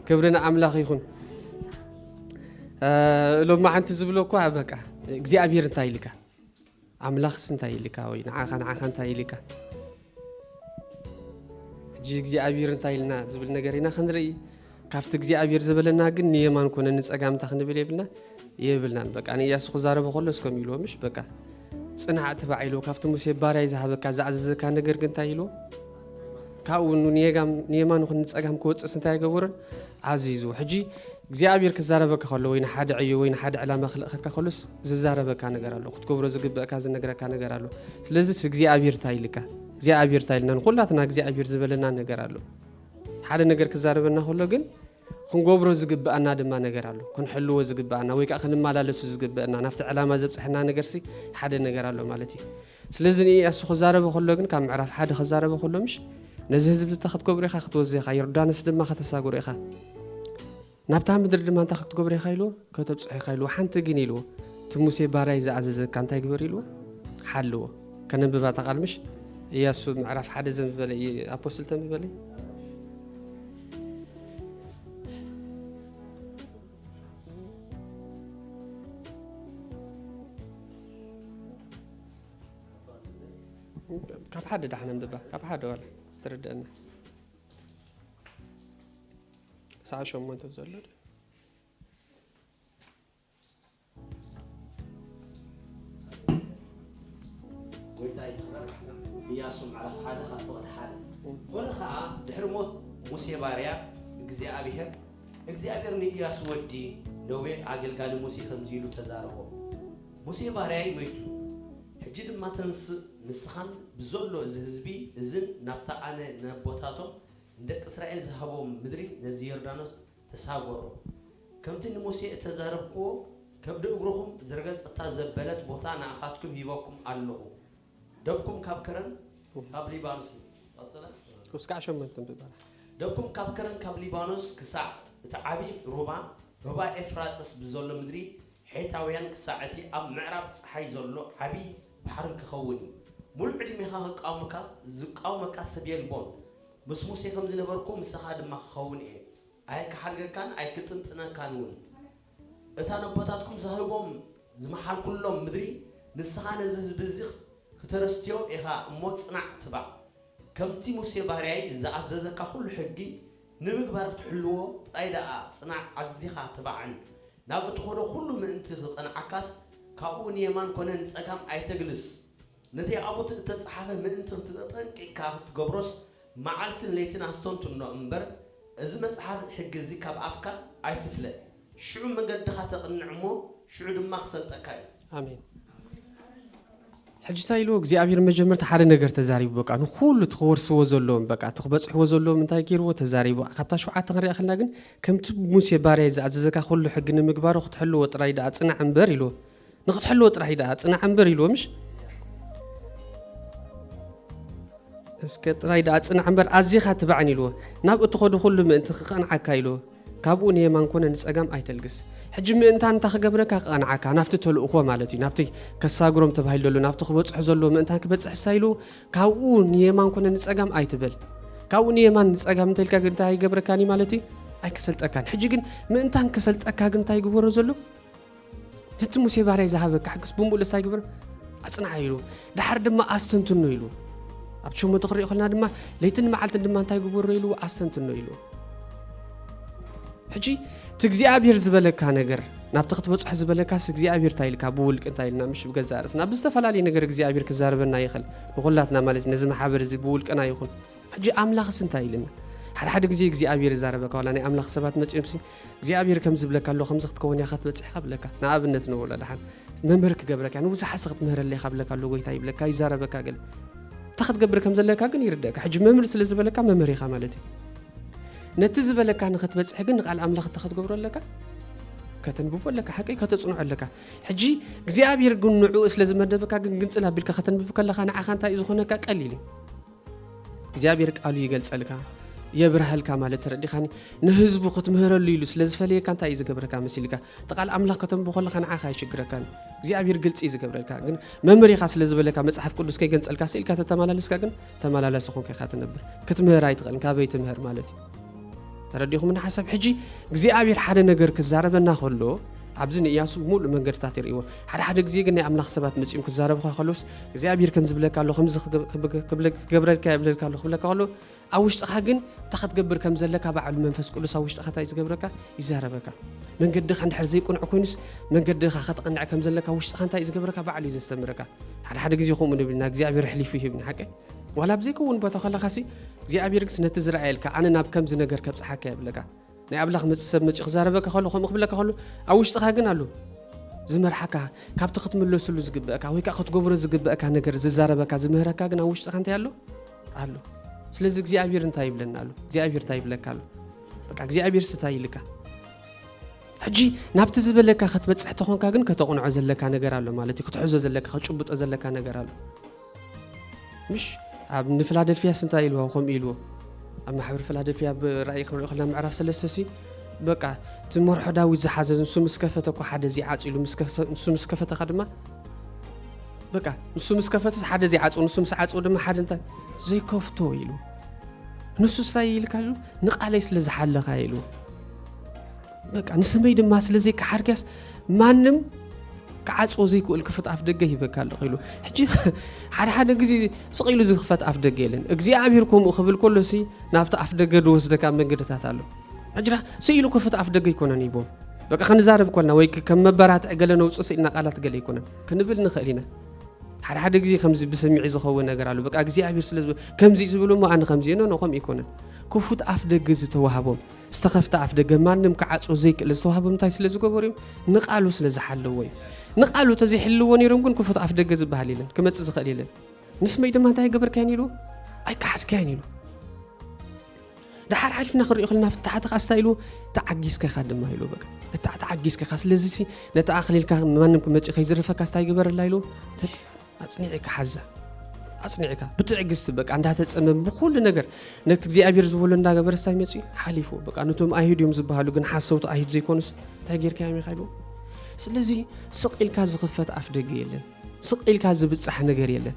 ክብሪ ንኣምላኽ ይኹን። ሎሚ ሓንቲ ዝብሎ እኳ በቃ እግዚኣብሔር እንታይ ኢልካ ኣምላኽስ እንታይ ኢልካ ወይ ንዓኻ ንዓኻ እንታይ ኢልካ ሕጂ እግዚኣብሔር እንታይ ኢልና ዝብል ነገር ኢና ክንርኢ ካብቲ እግዚኣብሔር ዝበለና ግን ንየማን ኮነ ንፀጋምታ ክንብል የብልና የብልናን በቃ ንእያሱ ክዛረበ ከሎ እስከም ኢልዎ ምሽ በቃ ጽናዕ ትባዕ ኢሉ ካብቲ ሙሴ ባርያይ ዝሃበካ ዝኣዘዘካ ነገር ግን እንታይ ኢሉ ካብኡ ንየማን ኹን ንጸጋም ክወፅእስ እንታይ ኣይገበሩን ኣዚዙ ሕጂ እግዚኣብሔር ክዛረበካ ከሎ ወይ ንሓደ ዕዮ ወይ ንሓደ ዕላማ ክልእኸካ ከሎስ ዝዛረበካ ነገር ኣሎ ክትገብሮ ዝግበእካ ዝነግረካ ነገር ኣሎ ስለዚ እግዚኣብሔር እንታይ ኢልካ እግዚኣብሔር እንታይ ኢልና ንኩላትና እግዚኣብሔር ዝበለና ነገር ኣሎ ሓደ ነገር ክዛረበና ከሎ ግን ክንገብሮ ዝግብኣና ድማ ነገር ኣሎ። ክንሕልዎ ዝግብኣና ወይ ከኣ ክንመላለሱ ዝግብእና ናብቲ ዕላማ ዘብጽሐና ነገርሲ ሓደ ነገር ኣሎ ማለት እዩ። ስለዚ ንኢያሱ ክዛረቦ ከሎ ግን ካብ ምዕራፍ ሓደ ክዛረቦ ከሎ ምሽ ነዚ ህዝቢ እዚ ክትገብሮ ኢኻ ክትወዝእ ኢኻ ዮርዳኖስ ድማ ከተሳግሮ ኢኻ ናብታ ምድሪ ድማ እንታይ ክትገብሮ ኢኻ ኢልዎ ከተብጽሖ ኢኻ ኢልዎ ሓንቲ ግን ኢልዎ እቲ ሙሴ ባርያይ ዝኣዘዘካ እንታይ ግበር ኢልዎ ሓልዎ ከነንብባ ተቓልምሽ እያሱ ምዕራፍ ሓደ ዘንብበለ ኣፖስትል ተንብበለይ ካብ ሓደ ዳሕና ምድባ ካብ ሓደ ዋላ ትርድአና ሰዓ ሸሞንተ ዘሎ ጎይታ ይክበር ኢያሱ ምዕራፍ ሓደ ካብ ፍቕዲ ሓደ ኮነ ከዓ ድሕሪ ሞት ሙሴ ባርያ እግዚኣብሔር እግዚኣብሔር ንኢያሱ ወዲ ነዌ ኣገልጋሊ ሙሴ ከምዚ ኢሉ ተዛረቦ ሙሴ ባርያይ መይቱ ሕጂ ድማ ተንስእ ንስኻን ብዘሎ እዚ ህዝቢ እዝን ናብታ ኣነ ንኣቦታቶም ንደቂ እስራኤል ዝሃቦም ምድሪ ነዚ ዮርዳኖስ ተሳጐሩ። ከምቲ ንሙሴ እተዛረብክዎ፣ ከብዲ እግርኹም ዝረገጸታ ዘበለት ቦታ ንኣኻትኩም ሂበኩም ኣሎኹ። ደብኩም ካብ ከረን ካብ ሊባኖስን። ቀጽለ። ክሳዕ ሸመንትን ብበረሃ። ደብኩም ካብ ከረን ካብ ሊባኖስ ክሳዕ እቲ ዓብዪ ሩባ፣ ሩባ ኤፍራጥስ ብዘሎ ምድሪ ሔታውያን ክሳዕ እቲ ኣብ ምዕራብ ጸሓይ ዘሎ ዓብዪ ባሕርን ኪኸውን እዩ። ምሉእ ዕድሜኻ ኺቃወመካ ዚቃወመካ ሰብ የልቦን። ምስ ሙሴ ከም ዝነበርኩ ምሳኻ ድማ ክኸውን እየ፣ ኣይክሓድገካን ኣይክጥንጥነካን እውን። እታ ነቦታትኩም ዝሃብዎም ዝመሓልኩሎም ምድሪ፣ ንስኻ ነዚ ህዝቢ እዚ ክተርስትዮ ኢኻ እሞ ጽናዕ ትባዕ። ከምቲ ሙሴ ባርያይ ዝኣዘዘካ ዅሉ ሕጊ ንምግባር ክትሕልዎ ጥራይ ደኣ ጽናዕ ኣዚኻ ትባዕን። ናብ እትኸዶ ዅሉ ምእንቲ ኽቐንዓካስ፣ ካብኡ ንየማን ኰነ ንጸጋም ኣይተግልስ። ነቲ ኣብኡ እተጻሓፈ ምእንቲ ክትጠጠንቂቅካ ክትገብሮስ መዓልትን ለይትን ኣስተንትኖ እምበር እዚ መጽሓፍ ሕጊ እዚ ካብ ኣፍካ ኣይትፍለ ሽዑ መገድኻ ተቅንዕ እሞ ሽዑ ድማ ክሰልጠካ እዩ። ኣሜን ሕጂ ታይ ኢልዎ እግዚኣብሄር ንመጀመርታ ሓደ ነገር ተዛሪቡ በቃ ንኩሉ እቲ ክወርስዎ ዘለዎም በቃ እቲ ክበጽሕዎ ዘለዎም እንታይ ገይርዎ ተዛሪቡ ካብታ ሸውዓተ ክንሪኣ ከለና ግን ከምቲ ሙሴ ባርያይ ዝኣዘዘካ ኩሉ ሕጊ ንምግባሩ ክትሕልዎ ጥራይ ደኣ ጽናዕ እምበር ኢልዎ ንክትሕልዎ ጥራሕ እዩ ደኣ ፅናዕ እምበር ኢልዎ ምሽ እስከ ጥራይ ደኣ ፅናዕ እምበር ኣዚኻ ትባዕን ኢልዎ ናብ እትኸዱ ኩሉ ምእንቲ ክቐንዓካ ኢልዎ ካብኡ ንየማን ኮነ ንፀጋም ኣይተልግስ ሕጂ ምእንታን እንታ ክገብረካ ክቐንዓካ ናብቲ ተልእኮ ማለት እዩ ናብቲ ከሳግሮም ተባሂሉ ዘሎ ናብቲ ክበፅሑ ዘለዎ ምእንታን ክበፅሕ ስታይሉ ካብኡ ንየማን ኮነ ንፀጋም ኣይትበል ካብኡ ንየማን ንፀጋም እንተልካ ግን እንታይ ኣይገብረካን እዩ ማለት እዩ ኣይከሰልጠካን ሕጂ ግን ምእንታን ከሰልጠካ ግን እንታይ ይግበሮ ዘሎ ትቲ ሙሴ ባርያይ ዝሃበካ ሕግስ ብምሉእ ስታይ ግብር ኣጽንዓ ኢሉ ድሓር ድማ ኣስተንትኖ ኢሉ ኣብቲ ሸሞንተ ክሪኦ ከለና ድማ ለይትን መዓልትን ድማ እንታይ ግበሮ ኢሉ ኣስተንትኖ ኢሉ ሕጂ እቲ እግዚኣብሔር ዝበለካ ነገር ናብቲ ክትበፅሖ ዝበለካስ እግዚኣብሔር እንታይ ኢልካ ብውልቂ እንታይ ኢልና ምሽ ብገዛ ርእስና ብዝተፈላለየ ነገር እግዚኣብሔር ክዛረበና ይኽእል ንኩላትና ማለት ነዚ ማሕበር እዚ ብውልቅና ይኹን ሕጂ ኣምላኽስ እንታይ ኢልና ሓደ ሓደ ግዜ እግዚኣብሔር ይዛረበካ ዋላ ናይ ኣምላኽ ሰባት መፅኦምሲ እግዚኣብሔር ከምዚ ይብለካ ኣሎ ከምዚ ክትከውን እያካ ትበጽሕካ ብለካ ንኣብነት ንብሎ ደሓን መምህር ክገብረካ እያ ንብዙሓት ሰ ክትምህረለ ኢካ ብለካ ኣሎ ጎይታ ይብለካ ይዛረበካ ገለ እንታይ ክትገብር ከም ዘለካ ግን ይርደእካ ሕጂ መምህር ስለ ዝበለካ መምህር ኢካ ማለት እዩ ነቲ ዝበለካ ንክትበጽሕ ግን ንቃል ኣምላኽ እንታይ ክትገብሮ ኣለካ ከተንብቦ ኣለካ ሓቂ ከተፅንዖ ኣለካ ሕጂ እግዚኣብሔር ግን ንዕኡ ስለ ዝመደበካ ግን ግንፅል ኣቢልካ ከተንብብ ከለካ ንዓኻ እንታይ እዩ ዝኾነካ ቀሊል እዩ እግዚኣብሔር ቃሉ ይገልጸልካ የብርሃልካ ማለት ተረዲኻኒ ንህዝቡ ክትምህረሉ ኢሉ ስለ ዝፈለየካ እንታይ እዩ ዝገብረካ መሲልካ እቲ ቃል ኣምላኽ ከተንብ ከለካ ንዓኻ ኣይሽግረካን እግዚኣብሔር ግልፂ እዩ ዝገብረልካ ግን መምህር ኢኻ ስለ ዝበለካ መፅሓፍ ቅዱስ ከይገንፀልካ ስኢልካ ተተመላለስካ ግን ተመላላሲ ኮንካ ኢኻ ትነብር ክትምህር ኣይትኽእልን ካበይ ትምህር ማለት እዩ ተረዲኹምኒ ሓሳብ ሕጂ እግዚኣብሔር ሓደ ነገር ክዛረበና ከሎ ኣብዚ ንእያሱ ሙሉእ መንገድታት የርእይዎ ሓደ ሓደ ግዜ ግን ናይ ኣምላኽ ሰባት መጺኦም ክዛረብካ ከሎስ እግዚኣብሔር ከም ዝብለካ ኣሎ ከምዚ ክገብረልካ የብለልካ ኣሎ ክብለካ ከሎ ኣብ ውሽጥኻ ግን እታ ክትገብር ከም ዘለካ ባዕሉ መንፈስ ቅዱስ ኣብ ውሽጥኻ እንታይ ዝገብረካ ይዛረበካ መንገድኻ እንድሕር ዘይቁኑዕ ኮይኑስ መንገድኻ ከተቕንዕ ከም ዘለካ ውሽጥኻ እንታይ ዝገብረካ ባዕሉ እዩ ዘስተምረካ ሓደ ሓደ ግዜ ከምኡ ንብልና እግዚኣብሔር ኣሕሊፉ ይህብና ሓቀ ዋላ ኣብ ዘይከውን ቦታ ከለኻሲ እግዚኣብሔርግስ ነቲ ዝረኣየልካ ኣነ ናብ ከምዚ ነገር ከብፅሓካ የብለካ ናይ ኣብላኽ መፅ ሰብ መፂ ክዛረበካ ከሎ ከምኡ ክብለካ ከሎ ኣብ ውሽጥኻ ግን ኣሉ ዝመርሓካ ካብቲ ክትምለስሉ ዝግበእካ ወይ ከዓ ክትገብሮ ዝግበእካ ነገር ዝዛረበካ ዝምህረካ ግን ኣብ ውሽጥካ እንታይ ኣሎ ኣሎ ስለዚ እግዚኣብሔር እንታይ ይብለና ኣሎ እግዚኣብሔር እንታይ ይብለካ ኣሎ በቃ እግዚኣብሔር ስታይ ይልካ ሕጂ ናብቲ ዝበለካ ክትበፅሕ ተኾንካ ግን ከተቕንዖ ዘለካ ነገር ኣሎ ማለት እዩ ክትሕዞ ዘለካ ክትጭብጦ ዘለካ ነገር ኣሎ ምሽ ኣብ ንፍላደልፍያስ እንታይ ኢልዎ ከምኡ ኢልዎ ኣብ ማሕበር ፍላደልፍያ ብ ራእይ ክንሪኦ ከለና ምዕራፍ ሰለስተ ሲ በቃ እቲ መርሖ ዳዊት ዝሓዘ ንሱ ምስ ከፈተ እኮ ሓደ ዚዓጽ ኢሉ ንሱ ምስ ከፈተኻ ድማ በቃ ንሱ ምስ ከፈተስ ሓደ ዚዓጽው ንሱ ምስ ዓጽው ድማ ሓደ እንታይ ዘይከፍቶ ኢሉ ንሱ ስታይ ኢልካ ኢሉ ንቃለይ ስለ ዝሓለኻ ኢሉ በቃ ንስመይ ድማ ስለ ዘይከሓድክያስ ማንም ክዓፅዎ ዘይክእል ክፍት ኣፍ ደገ ሂበካ ኣለኹ ኢሉ ሕጂ ሓደ ሓደ ግዜ ስቕ ኢሉ ዝኽፈት ኣፍ ደገ የለን እግዚኣብሔር ከምኡ ክብል ከሎ ሲ ናብቲ ኣፍ ደገ ዝወስደካ መንገድታት ኣሎ ሕጅራ ስኢሉ ክፍት ኣፍ ደገ ኣይኮነን ይቦ በቃ ክንዛረብ ኮልና ወይ ከም መበራትዕ ገለ ነውፅ ስኢልና ቃላት ገለ ኣይኮነን ክንብል ንኽእል ኢና ሓደ ሓደ ግዜ ከምዚ ብስምዒ ዝኸውን ነገር ኣሎ በቃ እግዚኣብሔር ስለ ከምዚ ዝብሉ እሞ ኣነ ከምዚ ኖ ኖ ከምኡ ኣይኮነን ክፉት ኣፍ ደገ ዝተዋህቦም ዝተኸፍተ ኣፍደገ ማንም ክዓጽዎ ዘይክእል ዝተዋህቦም እንታይ ስለ ዝገበሩ እዮም? ንቓሉ ስለ ዝሓለዎ እዩ። ንቓሉ ተዘይሕልዎ ነይሮም ግን ክፉት ኣፍደገ ዝበሃል የለን፣ ክመጽእ ዝኽእል የለን። ንስመይ ድማ እንታይ ኣይገበርካዮን ኢሉ ኣይከሓድካዮን ኢሉ ድሓር ሓሊፍና ክንሪኦ ከለና ፍታሓት ኸዓ ስታ ኢሉ ተዓጊዝካ ኢኻ ድማ ኢሉ በቃ እታ ተዓጊዝካ ኢኻ ስለዚ ነቲ ኣኽሊልካ ማንም ክመፅእ ከይዝርፈካ ስታ ይግበረላ ኢሉ ኣጽኒዕካ ሓዛ ኣጽኒዕካ ብትዕግስቲ በቃ እንዳተጸመም ብኩሉ ነገር ነቲ እግዚኣብሔር ዝበሎ እንዳገበረ ስታይ መፅኡ ሓሊፉ በቃ ነቶም ኣይሁድ እዮም ዝበሃሉ ግን ሓሰውቲ ኣይሁድ ዘይኮኑስ እንታይ ጌርካ ኢኻ ኢሉ ስለዚ ስቕ ኢልካ ዝኽፈት ኣፍ ደገ የለን ስቕ ኢልካ ዝብጻሕ ነገር የለን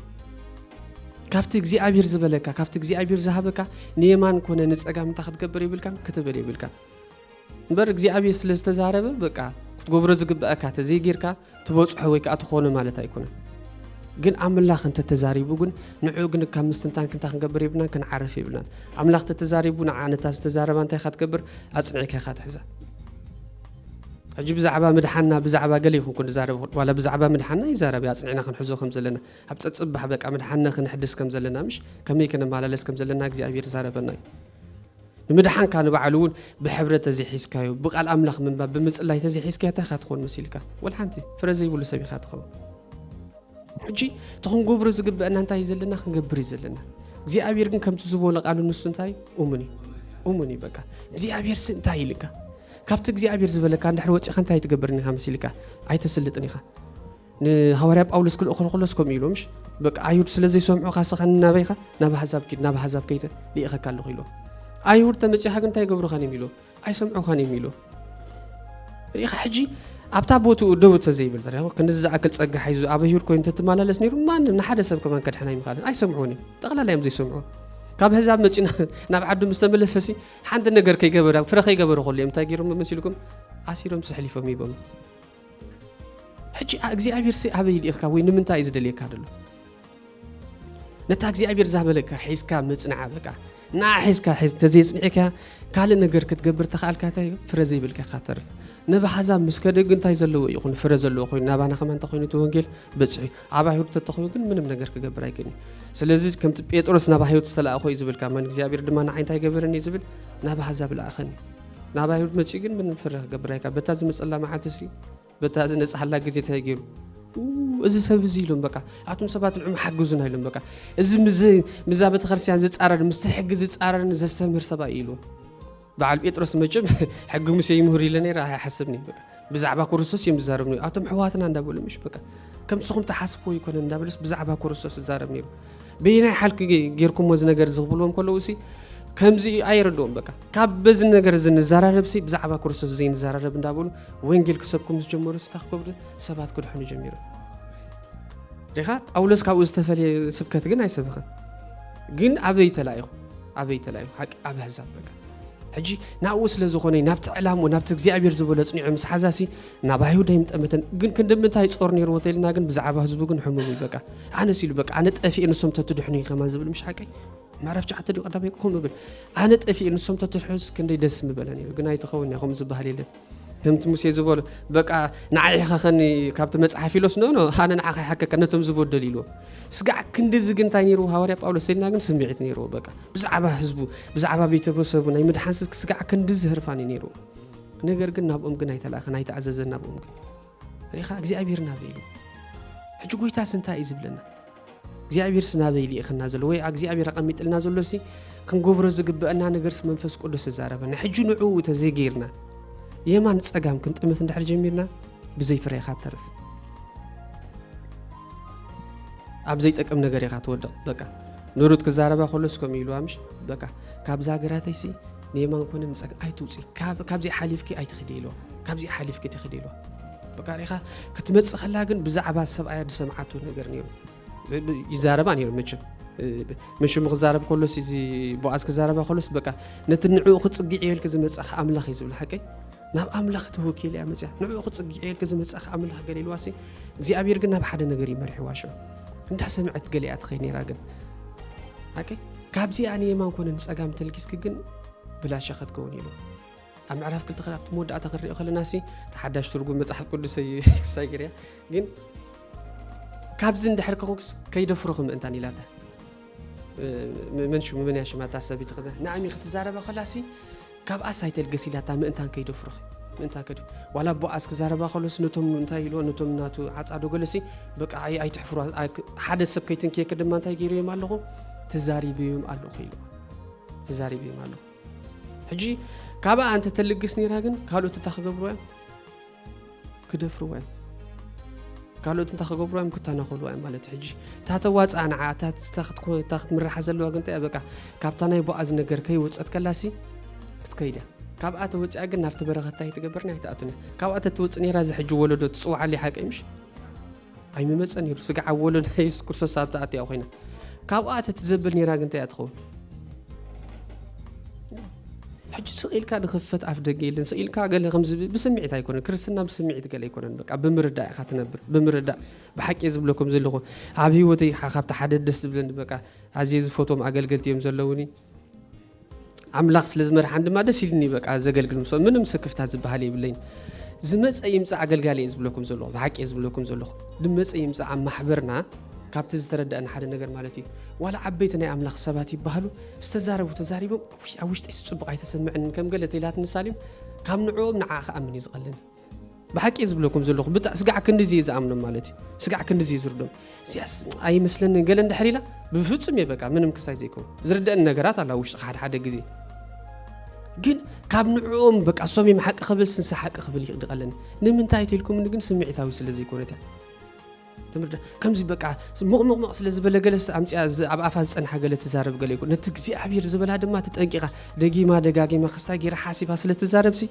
ካብቲ እግዚኣብሔር ዝበለካ ካብቲ እግዚኣብሔር ዝሃበካ ንየማን ኮነ ንፀጋም እንታይ ክትገብር የብልካን ክትብል የብልካን እምበር እግዚኣብሔር ስለ ዝተዛረበ በቃ ክትገብሮ ዝግበኣካ ተዘይጌርካ ትበጽሖ ወይ ከዓ ትኾኖ ማለት ኣይኮነን። ግን ኣምላኽ እንተተዛሪቡ ግን ንዑ ግን ካብ ምስትንታን ክንታ ክንገብር የብልናን ክንዓርፍ የብልናን ኣምላኽ ተተዛሪቡ ንዓ ነታ ዝተዛረባ እንታይ ኢኻ ትገብር ኣፅኒዕካ ኢኻ ትሕዛ ሕጂ ብዛዕባ ምድሓና ብዛዕባ ገለ ይኹን ክንዛረብ ዋላ ብዛዕባ ምድሓና ይዛረብ ኣፅኒዕና ክንሕዞ ከም ዘለና ኣብ ፀፅባሕ በቃ ምድሓና ክንሕድስ ከም ዘለና ምሽ ከመይ ክንመላለስ ከም ዘለና እግዚኣብሔር ዛረበና እዩ ንምድሓንካ ንባዕሉ እውን ብሕብረት ተዘይሒዝካዮ ብቃል ኣምላኽ ምንባብ ብምጽላይ ተዘይሒዝካዮ እንታይ ኢኻ ትኾን መሲልካ ወልሓንቲ ፍረ ዘይብሉ ሰብ ኢኻ ትኸውን ሕጂ እቲ ክንገብሮ ዝግበአና እንታይ እዩ ዘለና ክንገብር እዩ ዘለና እግዚኣብሔር ግን ከምቲ ዝበሎ ቃሉ ንሱ እንታይ እሙን እዩ እሙን እዩ በቃ እግዚኣብሔር ስ እንታይ ኢልካ ካብቲ እግዚኣብሔር ዝበለካ እንድሕር ወፂኻ እንታይ ትገብርን ኢኻ መሲልካ ኣይተስልጥን ኢኻ ንሃዋርያ ጳውሎስ ክልእኮ እንከሎስ ከምኡ ኢሉ ምሽ በቃ ኣይሁድ ስለ ዘይሰምዑኻ ንስኻ ንናበይኻ ናብ ኣሕዛብ ኪድ ናብ ኣሕዛብ ከይደ ልኢኸካ ኣለኹ ኢሎ ኣይሁድ ተመጺኻ ግን እንታይ ይገብሩኻን እዮም ኢሎ ኣይሰምዑኻን እዮም ኢሎ ርኢኻ ሕጂ ኣብታ ቦትኡ ደው ተዘይብል ተሪያ ክንዚ ዝኣክል ጸጋ ሓይዙ ኣብ ኣይሁድ ኮይኑ ተትመላለስ ነይሩ ማንም ንሓደ ሰብ ከማን ከድሕና ይምኻልን ኣይሰምዑን እዮም ጠቕላላ እዮም ዘይሰምዑ ካብ ህዛብ መፂና ናብ ዓዱ ምስ ተመለሰሲ ሓንቲ ነገር ከይገበረ ፍረ ከይገበረ ከሉ እዮም እንታይ ገይሮም መሲልኩም ኣሲሮም ስሕሊፎም ይቦም ሕጂ እግዚኣብሔርሲ ኣበይ ልኢኽካ ወይ ንምንታይ እዩ ዝደልየካ ደሎ ነታ እግዚኣብሔር ዛበለካ ሒዝካ ምጽንዓ በቃ ንዓ ሒዝካ ተዘይጽኒዕካ ካልእ ነገር ክትገብር ተኽኣልካ እንታይ ፍረ ዘይብልካ ኢኻ ተርፍ ነብ ሓዛብ ምስ ከደ ግን እንታይ ዘለዎ እዩ ይኹን ፍረ ዘለዎ ኮይኑ ናባና ከማ እንተኮይኑ እቲ ወንጌል በፅሑ እዩ ኣብ ኣይሁድ ተተኮይኑ ግን ምንም ነገር ክገብር ኣይክእልን እዩ ስለዚ ከምቲ ጴጥሮስ ናብ ኣይሁድ ዝተላእኾ እዩ ዝብልካ መን እግዚኣብሔር ድማ ንዓይ እንታይ ገበረኒ እዩ ዝብል ናብ ኣሕዛብ ለኣኸኒ ናብ ኣይሁድ መጺኡ ግን ምንም ፍርህ ክገብር ኣይካ በታ ዝመጸላ መዓልቲ ሲ በታ ዝነጽሓላ ግዜ እንታይ ገይሩ እዚ ሰብ እዚ ኢሎም በቃ ኣቱም ሰባት ንዑ ሓግዙና ኢሎም በቃ እዚ ምዛ ቤተክርስትያን ዝፃረር ምስቲ ሕጊ ዝፃረርን ዘስተምህር ሰብኣይ ኢሉ በዓል ጴጥሮስ መቸም ሕጊ ሙሴ ይምህሩ ኢለ ነይረ ኣይሓስብኒ በቃ ብዛዕባ ኩሩስቶስ እዩም ዝዛረብ ነይሩ ኣቶም ሕዋትና እንዳበሉ ምሽ በቃ ከምቲ ንስኹም ትሓስብዎ ይኮነን እንዳበለስ ብዛዕባ ኩሩስቶስ ዝዛረብ ነይሩ በየናይ ሓልኪ ጌርኩሞ እዚ ነገር ዝኽብልዎም ከለዉ እሲ ከምዚ ኣይረድኦም በቃ ካብ በዚ ነገር እዚ ንዘራረብሲ ብዛዕባ ክርስቶስ ዘይንዘራረብ እንዳበሉ ወንጌል ክሰብኩም ዝጀመሩ ስታ ክከብዱ ሰባት ክድሕኑ ጀሚሩ ሪኻ ጳውሎስ ካብኡ ዝተፈለየ ስብከት ግን ኣይሰበኸን ግን ኣበይ ተላኢኹ ኣበይ ተላኢኹ ሓቂ ኣብ ኣሕዛብ በቃ ሕጂ ናብኡ ስለ ዝኾነ ናብቲ ዕላምኡ ናብቲ እግዚኣብሔር ዝበሎ ኣጽኒዑ ምስ ሓዛሲ ናብ ኣይሁድ ኣይምጠመተን ግን ክንድምንታይ ጾር ነይርዎ ተኢልና ግን ብዛዕባ ህዝቡ ግን ሕሙም እዩ በቃ ኣነስ ኢሉ በቃ ኣነ ጠፊኤ ንሶም ተትድሕኑ እዩ ከማን ዝብል ምሽ ሓቀይ ምዕራፍ ሸዓተ ድዩ ቀዳማይ ክኾን ምብል ኣነ ጠፊኤ ንሶም ተትድሕኑስ ክንደይ ደስ ምበለ ነይሩ ግን ኣይትኸውን እያ ከምኡ ዝበሃል የለን ከምቲ ሙሴ ዝበሎ በቃ ንዓይ ሕኸኸኒ ካብቲ መጽሓፍ ኢሎስ ኖ ኖ ኣነ ንዓኻ ይሓከካ ነቶም ዝበደሉ ኢልዎ ስጋዕ ክንድዚ ግን እንታይ ነይርዎ ሃዋርያ ጳውሎስ ሰይድና ግን ስምዒት ነይርዎ በቃ ብዛዕባ ህዝቡ ብዛዕባ ቤተሰቡ ናይ ምድሓን ስጋዕ ክንድዚ ህርፋን እዩ ነይርዎ ነገር ግን ናብኦም ግን ኣይተላእኸን ኣይተኣዘዘን ናብኦም ግን ርኢኻ እግዚኣብሄር ናበይ ኢሉ ሕጂ ጎይታስ እንታይ እዩ ዝብለና እግዚኣብሄርስ ናበይ ልኢኸና ዘሎ ወይ እግዚኣብሄር ኣቐሚጥልና ዘሎሲ ክንገብሮ ዝግበአና ነገርስ መንፈስ ቅዱስ እዛረበና ሕጂ ንዕኡ ተዘይገይርና የማን ፀጋም ክንጥምት እንድሕር ጀሚርና ብዘይ ፍረ ኢኻ ተርፍ ኣብ ዘይጠቅም ነገር ኢኻ ትወድቕ በቃ ንሩት ክዛረባ ከሎስ ከምኡ ኢልዋ ምሽ በቃ ካብዛ ሃገራተይሲ ንየማን ኮነ ንፀግ ኣይትውፂ ካብዚኣ ሓሊፍኪ ኣይትኽዲ ኢልዋ ካብዚኣ ሓሊፍኪ ትኽዲ ኢልዋ በቃ ሪኢኻ ክትመፅእ ከላ ግን ብዛዕባ ሰብኣያ ዝሰምዓቱ ነገር ነይሩ ይዛረባ ነይሩ መቸም መሽሙ ክዛረብ ከሎስ እዚ ቦኣዝ ክዛረባ ከሎስ በቃ ነቲ ንዕኡ ክፅግዕ የልክ ዝመፀኻ ኣምላኽ እዩ ዝብል ሓቀይ ናብ ኣምላኽ ተወኪላ እያ መጽያ ንዕኡ ክጽግዕ ኢልኪ ዝመጻኺ ኣምላኽ ገለ ኢልዋሲ እግዚኣብሔር ግን ናብ ሓደ ነገር እዩ መሪሕዋ ሽዑ እንዳሰምዐት ገለ እያ ትኸይ ነይራ ግን ኣቂ ካብዚኣ ንየማን ኮነ ንጸጋም ተልጊስኪ ግን ብላሻ ከትከውን ኢሉ ኣብ ምዕራፍ ክልተ ክል ኣብቲ መወዳእታ ክንሪኦ ከለና ሲ ተሓዳሽ ትርጉም መፅሓፍ ቅዱስ ክሳይ ገርያ ግን ካብዚ እንድሕር ከኹስ ከይደፍሮ ክምእንታን ኢላታ መን ሽሙ መን እያ ሽማ እታ ሰበይቲ ከዛ ንዓሚ ክትዛረባ ከላሲ ካብኣስ ኣይተልገስ ኢላታ ምእንታን ከይደፍሩኺ ምእንታን ከይደ ዋላ ቦኣዝ ክዛረባ ከሎስ ነቶም እንታይ ኢልዎ ነቶም ናቱ ዓፃዶ ገለሲ በቃ ኣይትሕፍሩ ሓደ ሰብ ከይትንክየኪ ድማ እንታይ ገይረዮም ኣለኹ ተዛሪበዮም ኣለኹ ኢልዎ ተዛሪበዮም ኣለኹ ሕጂ ካብኣ እንተ ተልግስ ነይራ ግን ካልኦት እታ ክገብሩ እዮም ክደፍርዋ እዮም ካልኦት እንታይ ክገብርዋ እዮም ክተናኸልዋ እዮም ማለት ሕጂ እታ ተዋፅኣ ንዓ እታ ክትምርሓ ዘለዋ ግን እንታይ በቃ ካብታ ናይ ቦኣዝ ነገር ከይወፀት ከላሲ ክትከይድ እያ ካብኣ ተወፅኣ ግን ናብቲ በረኸታ ይትገብርኒ ኣይትኣቱን እያ ካብኣ ተትወፅእ ነራ እዚ ሕጂ ወለዶ ትፅዋዓለይ ሓቀይ ምሽ ኣይምመጸን ነይሩ ስጋ ኣብ ወለዶ የሱስ ክርስቶስ ኣብታ ኣትያ ኮይና ካብኡ ኣተቲ ዘብል ነይራ ግን እንታይ እያ ትኸውን ሕጂ ስቂልካ ንክፈት ኣፍ ደገ የለን ስቂልካ ገለ ከምዚ ብስምዒት ኣይኮነን ክርስትና ብስምዒት ገለ ኣይኮነን በቃ ብምርዳእ ኢኻ ትነብር ብምርዳእ ብሓቂ ዝብለኩም ዘለኹ ኣብ ሂወተይ ካብቲ ሓደ ደስ ዝብለኒ በቃ ኣዝየ ዝፈትዎም ኣገልገልቲ እዮም ዘለውኒ ኣምላኽ ስለ ዝመርሓን ድማ ደስ ኢልኒ በቃ ዘገልግል ምስ ምንም ስክፍታት ዝበሃል የብለይን ዝመፀ ይምፃእ ኣገልጋሊ እየ ዝብለኩም ዘለኹ ብሓቂ እየ ዝብለኩም ዘለኹ ዝመፀ ይምፃእ ኣብ ማሕበርና ካብቲ ዝተረዳእና ሓደ ነገር ማለት እዩ ዋላ ዓበይቲ ናይ ኣምላኽ ሰባት ይበሃሉ ዝተዛረቡ ተዛሪቦም ኣብ ውሽጠይ ስፅቡቕ ኣይተሰምዐንን ከም ገለ ተይላት ንሳሊም ካብ ንዕኦም ንዓ ክኣምን እዩ ዝቐልኒ ብሓቂ እየ ዝብለኩም ዘለኹ ብጣ ስጋዕ ክንድዚ እየ ዝኣምኖም ማለት እዩ ስጋዕ ክንድዚ እየ ዝርዶም እዚኣስ ኣይመስለንን ገለ እንድሕር ኢላ ብፍጹም እየ በቃ ምንም ክሳይ ዘይከው ዝርደእኒ ነገራት ኣላ ውሽጢ ሓደ ሓደ ግዜ ግን ካብ ንዕኦም በቃ እሶም እዮም ሓቂ ክብል ስንሳ ሓቂ ክብል ይቕድቐለኒ ንምንታይ ተልኩምኒ ግን ስምዒታዊ ስለ ዘይኮነት እያ ትምህርቲ ከምዚ በቃ ምቕምቕምቕ ስለ ዝበለ ገለስ ኣምፅያ ኣብ ኣፋ ዝፀንሓ ገለ ትዛረብ ገለ ይኮ ነቲ እግዚኣብሄር ዝበላ ድማ ተጠንቂቓ ደጊማ ደጋጊማ ክስታይ ገይራ ሓሲባ ስለ ትዛረብሲ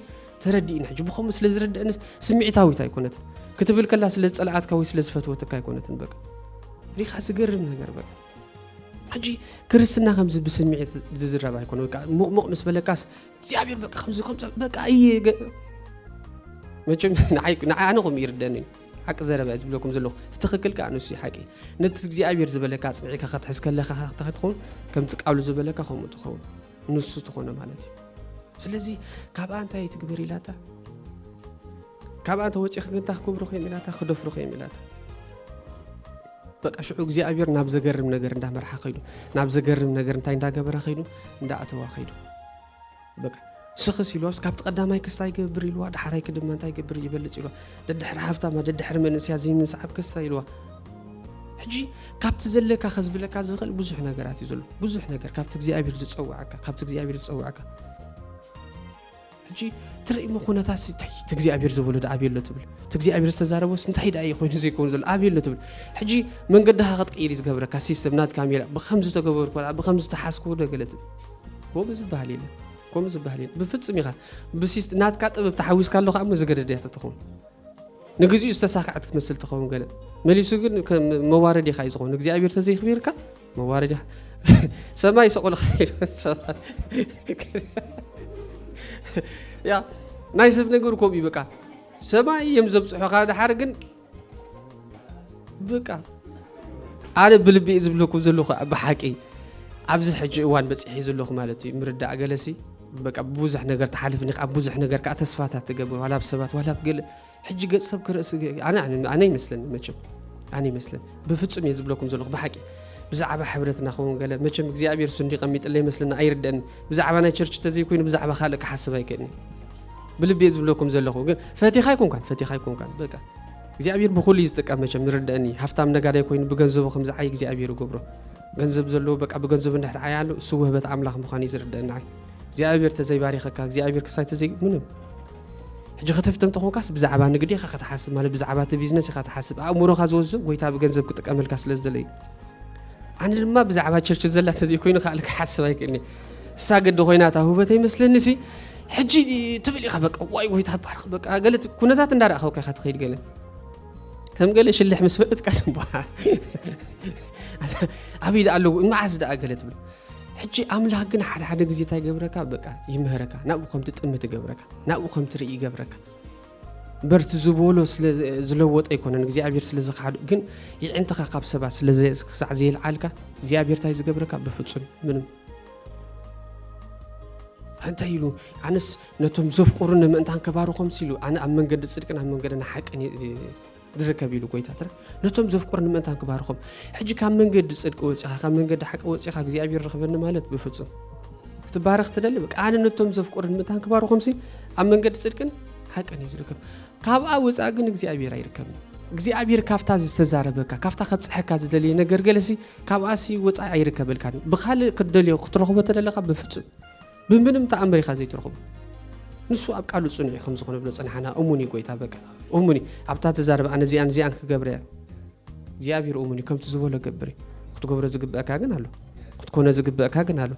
ተረዲእና ሕጂ ብከምኡ ስለ ዝረድአኒ ስምዒታዊት ኣይኮነትን ክትብል ከላ ስለ ዝፀላኣትካ ወይ ስለ ዝፈትወትካ ኣይኮነትን በቃ ሪኻ ዝገርም ነገር በቃ ሕጂ ክርስትና ከምዚ ብስምዒት ዝዝረብ ኣይኮነ በቃ ሙቕሙቕ ምስ በለካስ እግዚኣብሄር በቃ ከምዚ ከምዚ በቃ እየ መቸም ንዓይ ንዓይ ኣነ ከምኡ ይርደኒ እዩ ሓቂ ዘረባ እየ ዝብለኩም ዘለኹ እቲ ትኽክል ከዓ ንሱ እዩ ሓቂ ነቲ እግዚኣብሔር ዝበለካ ፅኒዕካ ከትሕዝ ከለካ ከታ ትኸውን ከምቲ ቃሉ ዝበለካ ከምኡ ትኸውን ንሱ ትኾነ ማለት እዩ ስለዚ ካብኣ እንታይ ትግበር ኢላታ ካብኣ እንተ ወፂ ክንታ ክክብሩ ኮይም ኢላታ ክደፍሩ ኮይም ኢላታ በቃ ሽዑ እግዚኣብሔር ናብ ዘገርም ነገር እንዳመርሓ ከይዱ ናብ ዘገርም ነገር እንታይ እንዳገበረ ከይዱ እንዳኣተዋ ከይዱ በቃ ስኽስ ኢልዋስ ካብቲ ቀዳማይ ክስ ታይ ገብር ኢልዋ ዳሓራይ ክድማ እንታይ ገብር ይበልፅ ኢልዋ ደድሕሪ ሃፍታማ ደድሕሪ መንእስያ ዘይምስዓብ ክስ ታይ ኢልዋ ሕጂ ካብቲ ዘለካ ከዝብለካ ዝኽእል ብዙሕ ነገራት እዩ ዘሎ ብዙሕ ነገር ካብቲ እግዚኣብሔር ዝፀውዐካ ካብቲ እግዚኣብሔር ዝፀውዐካ ሕጂ ትርእሞ ኩነታት እንታይ እቲ እግዚኣብሔር ዝበሎ ዶ ኣብየ ኣሎ ትብል እቲ እግዚኣብሔር ዝተዛረበስ እንታይ ደኣ እዩ ኮይኑ ዘይከውን ዘሎ ኣብየ ኣሎ ትብል ሕጂ መንገድኻ ክትቅይር እዩ ዝገብረካ ሲስተም ናትካ ሜላ ብከምዚ ተገበርኩ ብከምዚ ተሓዝኩ ዶ ገለ ትብል ኮምኡ ዝበሃል የለን ኮምኡ ዝበሃል የለን ብፍፅም ኢኻ ብሲስት ናትካ ጥበብ ተሓዊስካ ኣሎ ከሞ ዝገደድ እያ ትኸውን ንግዚኡ ዝተሳክዐት ክትመስል ትኸውን ገለ መሊሱ ግን መዋረድ ኢኻ እዩ ዝኸውን እግዚኣብሔር ተዘይክቢርካ መዋረድ ኢኻ ሰማይ ሰቆልካ ሰባት ያ ናይ ሰብ ነገር ከምኡ እዩ በቃ ሰማይ እዮም ዘብፅሑኻ ድሓር ግን ብቃ ኣነ ብልቢ ዝብለኩም ዘለኹ ብሓቂ ኣብዚ ሕጂ እዋን በፂሒ ዘለኹ ማለት እዩ ምርዳእ ገለሲ በቃ ብዙሕ ነገር ተሓልፍኒ ኣብ ብዙሕ ነገር ከዓ ተስፋታት ትገብር ዋላ ብ ሰባት ዋላ ብ ገለ ሕጂ ገፅ ሰብ ክርእስ ኣነ ይመስለኒ መቸም ኣነ ይመስለኒ ብፍፁም እየ ዝብለኩም ዘለኹ ብሓቂ ብዛዕባ ሕብረትና ክኸውን ገለ መቸም እግዚኣብሔር ሱ እንዲቀሚጥለ ይመስለና ኣይርደአኒ ብዛዕባ ናይ ቸርች ተዘይኮይኑ ብዛዕባ ካልእ ክሓስብ ኣይክእልኒ ብልቢ እየ ዝብለኩም ዘለኹ ግን ፈቲኻ ኣይኮንካን ፈቲኻ ኣይኮንካን በቃ እግዚኣብሔር ብኩሉ እዩ ዝጥቀም መቸም ይርደአኒ ሃፍታም ነጋዳይ ኮይኑ ብገንዘቡ ከም ዝዓይ እግዚኣብሔር ይገብሮ ገንዘብ ዘለዎ በቃ ብገንዘቡ እንድሕር ዓያ ኣሎ እሱ ውህበት ኣምላኽ ምዃኑ እዩ ዝርደአኒ ዓይ እግዚኣብሔር ተዘይባሪኸካ እግዚኣብሔር ክሳይ ተዘይ ምንም ሕጂ ክትፍትም ተኾንካስ ብዛዕባ ንግዲ ኢኻ ከተሓስብ ማለት ብዛዕባ እቲ ቢዝነስ ኢኻ ተሓስብ ኣእምሮኻ ዝወዝዞ ጎይታ ብገንዘብ ክጥቀመልካ ስለ ዝደለዩ ኣነ ድማ ብዛዕባ ቸርች ዘላ ተዘይኮይኑ ካልእ ክሓስብ ኣይክእልኒ እሳ ግዲ ኮይና እታ ውህበተይ መስለኒ ሲ ሕጂ ትብል ኢኻ በቃ ዋይ ጎይታ ባርኽ በቃ ገለ ኩነታት እንዳረእኸውካ ኢኻ ትኸይድ ገለ ከም ገለ ሽልሕ ምስ በለትካ ስምባ ኣበይ ደኣ ኣለዎ መዓዝ ደኣ ገለ ትብል ሕጂ ኣምላኽ ግን ሓደ ሓደ ግዜ እንታይ ገብረካ በቃ ይምህረካ ናብኡ ከም ትጥምት ይገብረካ ናብኡ ከም ትርኢ ይገብረካ በርቲ ዝበሎ ስለ ዝለወጠ ኣይኮነን እግዚኣብሔር ስለ ዝኸሓዱ ግን ይዕንትኻ ካብ ሰባት ስለ ክሳዕ ዘየልዓልካ እግዚኣብሔር እንታይ ዝገብረካ በፍጹም ምንም እንታይ ኢሉ ኣነስ ነቶም ዘፍቅሩኒ ምእንታን ከባርኾም ሲሉ ኣነ ኣብ መንገዲ ጽድቅን ኣብ መንገድን ሓቅን ዝርከብ ኢሉ ጎይታትና ነቶም ዘፍቅሩኒ ምእንታን ክባርኾም ሕጂ ካብ መንገዲ ጽድቂ ወጺኻ ካብ መንገዲ ሓቂ ወጺኻ እግዚኣብሔር ረኽበኒ ማለት ብፍጹም ክትባረኽ ትደሊ በቃ ኣነ ነቶም ዘፍቅሩኒ ምእንታን ክባርኾምሲ ኣብ መንገዲ ጽድቅን ሓቅን እዩ ዝርከብ ካብኣ ወፃእ ግን እግዚኣብሔር ኣይርከብን እግዚኣብሔር ካብታ ዝተዛረበካ ካብታ ከብፅሐካ ዝደለየ ነገር ገለሲ ካብኣሲ ወፃኢ ኣይርከበልካን ብካልእ ክትደልዮ ክትረኽቦ ተደለካ ብፍፁም ብምንም ተኣምር ኢኻ ዘይትረኽቦ ንሱ ኣብ ቃሉ ጽኑዕ እዩ ከምዚ ክንብሎ ጽንሓና እሙን እዩ ጎይታ በቃ እሙን እዩ ኣብታ ተዛረበ ኣነ እዚኣን እዚኣን ክገብረ እያ እግዚኣብሔር እሙን እዩ ከምቲ ዝበሎ ገብር እዩ ክትገብሮ ዝግብአካ ግን ኣሎ ክትኮነ ዝግብአካ ግን ኣሎ